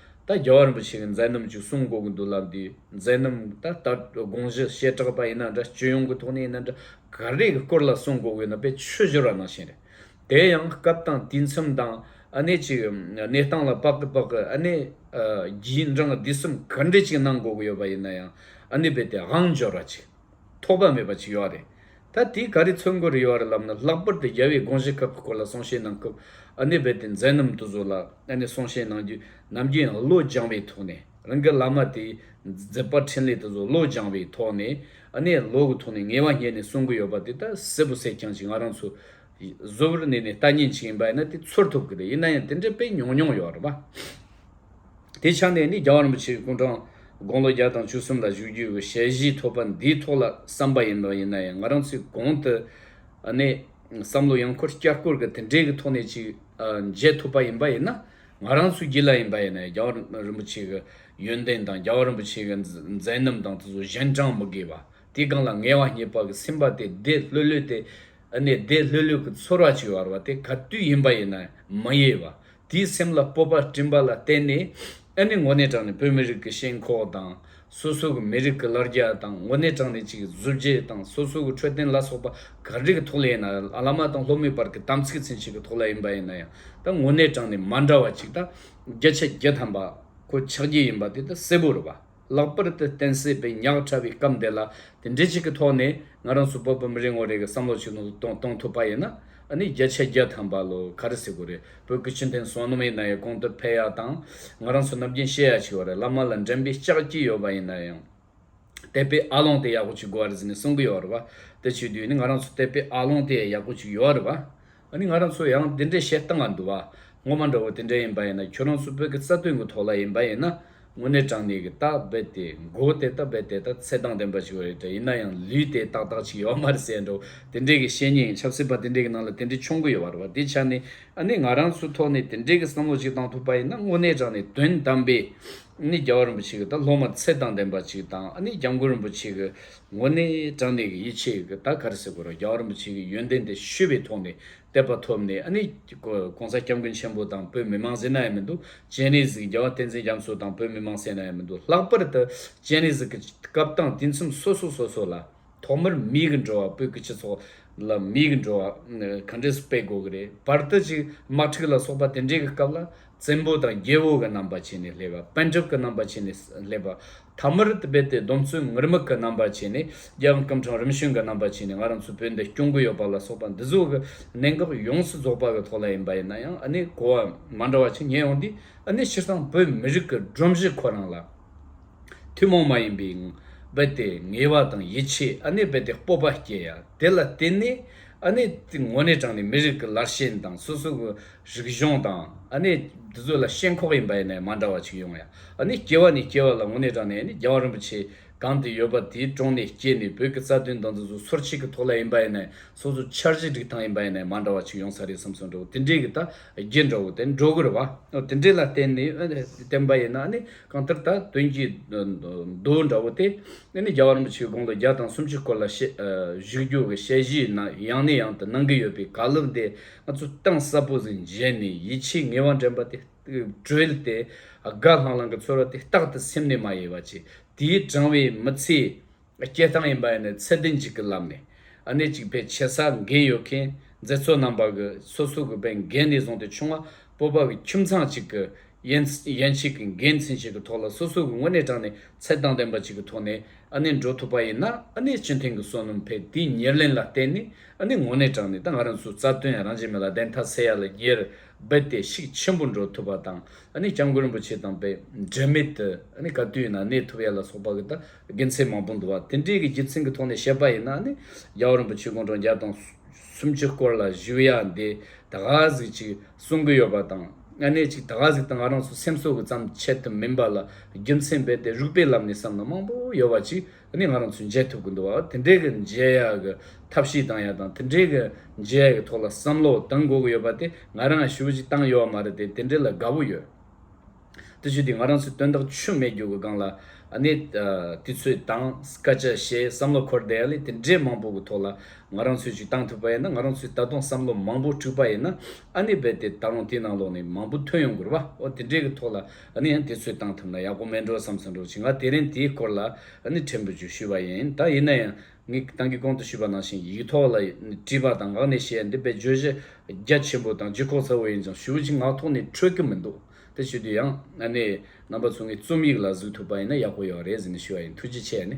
ད་རྒྱལ་བ་རིན་པོ་ཆེ་གི་མཛད་རྣམ་ཅིག་གསུང་གོ་གི་འདུག་ལབ་འདིའི་མཛད་རྣམ་ད་ལྟ་དགོངས་གཞི་བཤད་གྲགས་པ་ཡིན་ན་འདྲ་སྤྱི་ཡོངས་ཀྱི་ཐོག་ནས་ཡིན་ན་འདྲ་ག་རེ་གི་སྐོར་ལ་གསུང་གོ་གི་ཡོད་ན་དཔེ་ཆོས་སྦྱོར་བ་ནང་བཞིན་རེད། དེ་ཡང་སྐབས་དང་དུས་མཚམས་དང་ཨ་ནེ་ཅིག་གནས་སྟངས་ལ་དཔག་གི་དཔག་གི་ཨ་ནེ་རྒྱའི་འབྲང་འདི་གསུམ་ག་འདྲི་ཅིག་གནང་གོ་གི་ཡོད་པ་ཡིན་ན་ཡང་ཨ་ནེ་དཔེ་དེ་དབང་འབྱོར་བ་ཅིག། ཐོགས་པ་མེད་པ་ཅིག་ཡོད་རེད། ད་དེའི་ག་རེ་ཚོད་འགོ་རེ་ཡོད་རེད་ལབ་ན་ལྷག་པར་དུ་རྒྱལ་བའི་དགོངས་གཞི་ཁག་གི་སྐོར་ལ་གསུང་བཤད་གནང་སྐབས་ཨ་ནེ་རྦད་དེ་མཛད་རྣམ་དུ་གཟུགས་ལ་ཨ་ནེ་གསུང་བཤད་གནང་རྒྱུ་ནམ་རྒྱུན་ཡང་བློ་སྦྱང་བའི་ཐོག་ནས་རང་གི་བླ་མ་དེ་མཛད་པ་འཕྲིན་ལས་དུ་གཟུགས་བློ་སྦྱང་བའི་ཐོག་ནས་ཨ་ནེ་ལོག་གི་ཐོག་ནས་ངལ་བ་ཉལ་ནས་གསུང་གི་ཡོད་པ་དེ་ད་གསལ་པོ་གསལ་རྐྱང་ཅིག་ང་རང་ཚོ་གཟུ་བོར་གནས་ནས་ལྟ་ཉན་བྱེད་ཡིན་པ་ཡིན་ན་དེ་ཚོར་ཐུབ་ཀྱི་རེད་ཡིན་ན་ཡང་དེ་འདྲའི་དཔེ་ཉུང་ཉུང་ཡོད་རེད་པ། དེ་ཆ་ནས་ནི་རྒྱ་བ་རིན་པོ་ཆེའི་སྐུ་འཕྲང་དགུང་ལོ་བརྒྱ་དང་བཅུ་གསུམ་ལ་བཞུགས་རྒྱུའི་གི་ཞལ་བཞེས་ཐོབ་པ་འདིའི་ཐོག་ལ་བསམ་པ་ཡིན་པ་ཡིན་ན་ཡང་ང་རང་ཚོའི་གོང་དུ་ནས་བསམ་བློ་ཡང་འཁོར་བསྐྱར་འཁོར་གི་དེ་འདྲའི་གི་ཐོག་ནས་ཅིག་མཇལ་ཐུབ་པ་ཡིན་པ་ཡིན་ན་ང་རང་ཚོའི་སྒྱིད་ལ་ཡིན་པ་ཡིན་ན་ཡང་རྒྱ་བ་རིན་པོ་ཆེ་གི་ཡོན་ཏན་དང་རྒྱ་བ་རིན་པོ་ཆེ་གི་མཛད་རྣམ་དང་དེ་ཚོ་གཞན་དྲངས་མི་དགོས་པ་དེ་གང་ལ་ངལ་བ་རྙེད་པ་གི་སེམས་པ་དེ་བདེ་ལྷོད་ལྷོད་དེ་ཨ་ནེ་བདེ་ལྷོད་ལྷོད་ཀྱི་ཚོར་བ་བྱེད་བར་བ་དེ་ག་དུས་ཡིན་པ་ཡིན་ན་མ་གཡེལ་བ། དེའི་སེམས་ལ་སྤོབས་པ་སྤྲིན་པ་ལ་བརྟེན་ནས་ཨ་ནེ་ངོ་ནས་དྲངས་ནས་བོད་མི་རིགས་ཀྱི་ཞེན་ཁོག་དང། སོ་སོ་གི་མི་རིགས་ཀྱི་ལར་རྒྱ་དང་ངོ་ནས་དྲངས་ནས་ཅིག་གཟུ་བྱད་དང་སོ་སོ་གི་འཕྲོད་བསྟེན་ལ་སོགས་པ་ག་རེ་གི་ཐོག་ལ་ཡིན་ན་ཨ་ལ་མ་དང་ལྷོ་མོའི་བར་གྱི་དམ་ཚིག་ཚན་ཞིག་གི་ཐོག་ལ་ཡིན་པ་ཡིན་ན་ཡང་དང་ངོ་ནས་དྲངས་ནས་མ་འདྲ་བ་ཅིག་དང། བརྒྱ་ཆ་བརྒྱ་ཐམ་པ་ཁོ་ཆགས་ཀྱི་ཡིན་པ་དེ་དང་གསལ་པོར་བ། ལག་པར་དུ་བསྟན་སྲིད་པའི་ཉག་ཕྲ་བའི་སྐབས་འདི་ལ་དེ་འདྲའི་ཅིག་གི་ཐོག་ནས་ང་རང་ཚོ་བོད་པ་མི་རེ་ངོ་རེ་གི་བསམ་བློ་ཅིག་ནང་དུ་གཏོང་ཐུབ་པ་ཡིན་ན་ཨ་ནི་རྒྱ་ཆ་རྒྱ་ཐམ་པ་ལོ་ག་རེ་སྲིད་དགོས་རེད་བོད་ཀྱི་སྤྱི་མཐུན་སོ་ནམ་ཡིན་ན་ཡང་གོང་དུ་འཕེལ་ཡ་དང་ང་རང་ཚོ་ནམ་རྒྱུན་བཤད་ཡ་ཅིག་ཡོད་རེད་བླ་མ་ལ་འགྲན་པའི་ལྕག་གྱི་ཡོད་པ་ཡིན་ན་ཡང་དད་པའི་ཨ་ལོང་དེ་ཡག་པོ་ཅིག་དགོས་རེད་ཟེར་ནས་གསུང་གི་ཡོད་རེད་བ་དེ་བྱེད་དུས་ནི་ང་རང་ཚོ་དད་པའི་ཨ་ལོང་དེ་ཡག་པོ་ཅིག་ཡོད་རེད་བ། ཨ་ནི་ང་རང་ཚོ་ཡང་འདི་འདྲའི་བཤད་སྟངས་ལ་འདུ་བ་ངོ་མ་འདྲ་བོ་དེ་འདྲ་ཡིན་པ་ཡིན་ན་ཁྱོད་རང་ཚོ་བོད་ཀྱི་རྩ་དོན་གྱི་ཐོག་ལ་ཡིན་པ་ཡིན་ན་དངོས་གནས་དྲང་གནས་ཀྱི་སྟག་རྦད་དེ་མགོ་བོ་དེ་ལྟ་རྦད་དེ་ལྟ་ཚད་དང་ལྡན་པ་ཞིག་རེད་དྲ་ཡིན་ན་ཡང་ལུས་དེ་ཏག་ཏག་ཅིག་ཡོད་མ་རེད་སེ་འདྲ་བོ་དེ་འདྲའི་གི་བཤད་ཉེས་ཡིན་ཆབ་སྲིད་པ་དེ་འདྲའི་གི་ནང་ལ་དེ་འདྲའི་མཆོང་གི་ཡོད་བ་རེད་བ་དེའི་ཆ་ནས་ཨ་ནི་ང་རང་ཚོའི་ཐོག་ནས་དེ་འདྲའི་གི་བསམ་བློ་ཅིག་བཏང་ཐུབ་པ་ཡིན་ན་དངོས་གནས་དྲང་གནས་དོན་དམ་པའི་ཨ་ནི་རྒྱལ་བ་རིན་པོ་ཆེ་གི་ད་སློབ་མ་ཚད་དང་ལྡན་པ་ཅིག་དང་ཨ་ནི་རྒྱ་མགོ་རིན་པོ་ཆེ་གི་ངོ་ནས་དྲང་ནས་ཡིད་ཆེས་ཀྱི་ད་གར་ཟེར་གོ་རོ་རྒྱ་རིན་པོ་ཆེ་གི་ཡོན་ཏན་དེ་ཤུལ་བའི་ཐོག་ནས་དད་པ་ཐོབ་ནས་ཨ་ནི ྋགོང་ས ྋསྐྱབས་མགོན་ཆེན་པོ་དང་བོད་མི་མང་སེ་ན་ཡང་མི་འདུག ྋསྤྱན་རས་གཟིགས་རྒྱལ་བ་བསྟན་འཛིན་རྒྱ་མཚོ་དང་བོད་མི་མང་སེ་ན་ཡང་མི་འདུག་ལྷག་པར་དུ ྋསྤྱན་རས་གཟིགས་ཀྱི་སྐབས་དང་དུས་མཚམས་སོ་སོ་སོ་སོ་ལ་ཐོག་མར་མིའི་གི་འགྲོ་བ་སྤུལ་གི་སྤྱི་ཚོགས་ལ་མིའི་གི་འགྲོ་བ་གང་འདྲས་སུ་སྤེལ་དགོས་གི་རེད་བར་དུ་ཅིག་དམག་ཁྲིག་ལ་སོགས་པ་དེ་འདྲས་གི་སྐབས་ལ་བཙན་པོ་དང་རྒྱལ་པོ་གི་རྣམ་པ་བྱས་ནས་སླེབས་པ། པན་གྲུབ་ཀྱི་རྣམ་པ་བྱས་ནས་སླེབས་པ། ཐ་མར་དེ་རྦད་དེ་སྡོམ་བརྩོན་ངུར་སྨྲིག་གི་རྣམ་པ་བྱས་ནས་རྒྱལ་བ་སྐུ་འཕྲེང་རིམ་བྱོན་གྱི་རྣམ་པ་བྱས་ནས་ང་རང་ཚོའི་བོད་འདི་སྐྱོང་གི་ཡོད་པ་ལ་སོགས་པ་འདི་ཚོ་གི་གནད་འགག་ཡོངས་སུ་རྫོགས་པ་གི་ཐོག་ལ་ཡིན་པ་ཡིན་ན་ཡང་ཨ་ནི་གོ་བ་མ་འདྲ་བ་ཆེ་ཉེ་ཡོང་དུས་ཨ་ནི་སྤྱིར་བཏང་བོད་མི་རིགས་ཀྱི་སྒྲོམ་གཞི་ཁོ་རང་ལ་ཐུན་མོང་མ་ཡིན་པའི་རྦད་དེ་ངེས་པ་དང་ཡིད་ཆེས་ཨ་ནི་རྦད་དེ་སྤོབས་པ་སྐྱེ་ཡ་དེ་ལ་བརྟེན་ནས་ཨ་ནི་ངོ་ནས་དྲངས་ནས་མི་རིགས་ཀྱི་ལར་ཞེན་དང་སོ་སོ་གི་རིག་གཞུང་དང་ཨ་ནི་འདི་ཚོ་ལ་ཤེས་འཁོག་ཡིན་པ་ཡིན་ནའི་མ་འདྲ་བ་ཅིག་ཡོང་ཡ་ཨ་ནི་སྐྱེ་བ་ནས་སྐྱེ་བ་ལ་ངོ་ནས་དྲངས་ནས་ཨ་ནི་རྒྱལ་བ་རིན་པོ་ཆེ་གང་དེ་ཡོད་པ་དེའི་དྲུང་ནས་སྐྱེས་ནས་བོད་ཀྱི་རྩ་དོན་དང་འདི་ཚོ་ཚོར་བྱེད་ཀྱི་ཐོག་ལ་ཡིན་པ་ཡིན་ནའི་སོ་སོ་འཆར་གཞི་སྒྲིག་སྟངས་ཡིན་པ་ཡིན་ནའི་མ་འདྲ་བ་ཅིག་ཡོང་ས་རེད་བསམ་སོང་འདྲ་བོ་དེ་འདྲའི་གི་ད་རྒྱས་འདྲ་བོ་དེ་འགྲོ་གི་རེད་བ་དེ་འདྲའི་ལ་བརྟེན་ནས་བསྟན་པ་ཡིན་ན་ཨ་ནི་གང་ལྟར་ད་དོན་གྱི་མདོ་འདྲ་བོ་དེ་ཨ་ནི་རྒྱལ་བ་རིན་པོ་ཆེའི་དགུང་ལོ་བརྒྱ་དང་སུམ་ཅུ་སྐོར་ལ་བཤད་གཞིག་རྒྱུ་གི་དཔྱད་གཞིའི་ནང་ཡང་ནས་ཡང་དུ་གནང་གི་ཡོད་པའི་ག་ལེར་འདི་ང་ཚོ་གཏིང་ཟབ་པོ་ཟིན་རྗེས་ནས་ཡིད་ཆེས་ངེས་བ་འདྲེན་པ་དེ་བྲལ་ཏེ་དགའ་ལྷང་ལྷང་གི་ཚོར་བ་དེ་རྟག་ཏུ་སེམས་ནས་མ་གཡེལ་བ་ཅི། དེའི་བགྲང་བའི་མི་ཚེའི་སྐྱེལ་སྟངས་ཡིན་པ་ཡིན་ནའི་ཚད་ལྡན་ཅིག་གི་ལམ་ནས་གནད་ཅིག་པའི་ཆེ་ས་འགན་ཡོད་མཁན་མཛེས་འཚོ་རྣམ་པ་གི་སོ་སོ་གི་པའི་འགན་ནས་བཟུང་སྟེ་ཆུང་མ་སྤོབས་པ་གི་ཁྱིམ་ཚང་ཅིག་གི་ཡན་ཡན་ཞིག་གི་འགན་འཛིན་ཞིག་གི་ཐོག་ལ་སོ་སོ་གི་དངོས་གནས་དྲང་ནས་ཚད་དང་ལྡན་པ་ཅིག་གི་ཐོག་ནས་ཨ་ནེ་འགྲོ་ཐུབ་པ་ཡིན་ན་ཨ་ནེ་སྤྱི་མཐུན་གི་སོ་ནམ་ཕེབས་དེའི་ཉེར་ལེན་ལ་བརྟེན་ནས་ཨ་ནེ་དངོས་གནས་དྲང་ནས་ད་ང་རང་ཚོའི་རྩ་དོན་རང་བྱེད་མི་ལ་བདེན་མཐའ་གསལ་ཡག་ལ་གྱེར་སྦས་ཏེ་ཤུགས་ཆེན་པོ་འགྲོ་ཐུབ་པ་དང་ཨ་ནེ་སྐྱབས་མགོན་རིན་པོ་ཆེ་དང་བས་འབྲེལ་མེད་དུ་ཨ་ནེ་ག་དུས་ཡིན་ན་གནས་ཐུབ་ཡག་ལ་སོགས་པ་གི་ད་དགེ་མཚན་མང་པོ་འདུག་བ་དེ་འདྲའི་གི་རྒྱུ་མཚན་གི་ཐོག་ནས་བཤད་པ་ཡིན་ན་ཨ་ནེ་རྒྱལ་བ་རིན་པོ་ཆེ་དགུང་གྲངས་བརྒྱ་དང་སུམ་ཅུ་སྐོར་ལ་བཞུགས་ཡག་འདི་ད་ག་ཟིག་ཅིག་གསུང་གི་ཡོད་པ་དང། ལྔ་གནད་གཅིག་ད་ག་ཟིག་དང་ང་རང་ཚོ་སེམས་གསོ་གི་ཙམ་ཆེད་དུ་མིན་པ་ལ་རྒྱུ་མཚན་རྦད་དེ་རུག་པའི་ལམ་ནས་བསམ་ན་མང་པོ་ཡོད་བ་ཅིག་ནི་ང་རང་ཚོས་མཇལ་ཐུབ་གི་འདུག་བ་དེ་འདྲའི་གི་མཇལ་ཡག་གི་ཐབས་ཤེས་དང་ཡག་དང་དེ་འདྲའི་གི་མཇལ་ཡག་གི་ཐོག་ལ་བསམ་བློ་གཏང་དགོས་གི་ཡོད་པ་དེ་ང་རང་ཡང་ཞུ་བ་ཅིག་བཏང་ཡོད་བ་མ་རེད་དེ་དེ་འདྲའི་ལ་དགའ་བོ་ཡོད། དེ་ཆོས་དེ་ང་རང་ཚོས་དོན་དག་ཆུ་མེད་རྒྱུ་གི་སྒང་ལ་ནི་དེ་ཚོས་དང་སྐད་ཆ་བཤད་བསམ་བློ་འཁོར་བསྡད་ཡག་ལས་དེ་འདྲའི་མང་པོ་གི་ཐོག་ལ་ང་རང་ཚོས་ཅིག་བཏང་ཐུབ་པ་ཡིན་ན་ང་རང་ཚོས་ད་དུང་བསམ་བློ་མང་པོ་འཁྲུགས་པ་ཡིན་ན་ཨ་ནི་རྦད་དེ་ད་རུང་དེའི་ནང་ལོགས་ནས་མང་པོ་ཐོན་ཡོང་དགོས་རེད་པ་འོ་དེ་འདྲའི་གི་ཐོག་ལ་ཨ་ནི་ཡང་དེ་ཚོས་བཏང་ཐུབ་ན་ཡག་པོ་མེད་འགྲོ་བསམ་ས་འགྲོ་ཅིག་ང་དེ་རིང་དེའི་སྐོར་ལ་ཨ་ནི་ཕྲན་བུ་ཅིག་ཞུས་པ་ཡིན་ད་ཡིན་ན་ཡང་ངས་གཏང་གི་གོང་དུ་ཞུས་པ་ནང་བཞིན་ཡིག་ཐོག་ལ་བྲིས་པ་དང་ངག་ནས་བཤད་ཡ་འདི་དཔེ་བརྗོད་གཞི་རྒྱ་ཆེན་པོ་དང་ལྗིད་ཁོག་ཚ་བོ་ཡིན་ཀྱང་ཞུ་བ་ཅིག་ངག་ཐོག་ནས་འཕྲོད་ཀྱི་མི་འདུག་དེ་བྱེད་དུས་ཡང་ཨ་ནི་རྣམ་པ་ཚོ་ངའི་རྩོམ་ཡིག་ལ་གཟིགས་ཐུབ་པ་ཡིན་ན་ཡག་པོ་ཡོད་རེད་ཟེར་ནས་ཞུས་པ་ཡིན་ཐུགས་རྗེ་ཆེ་ཨ་ནི།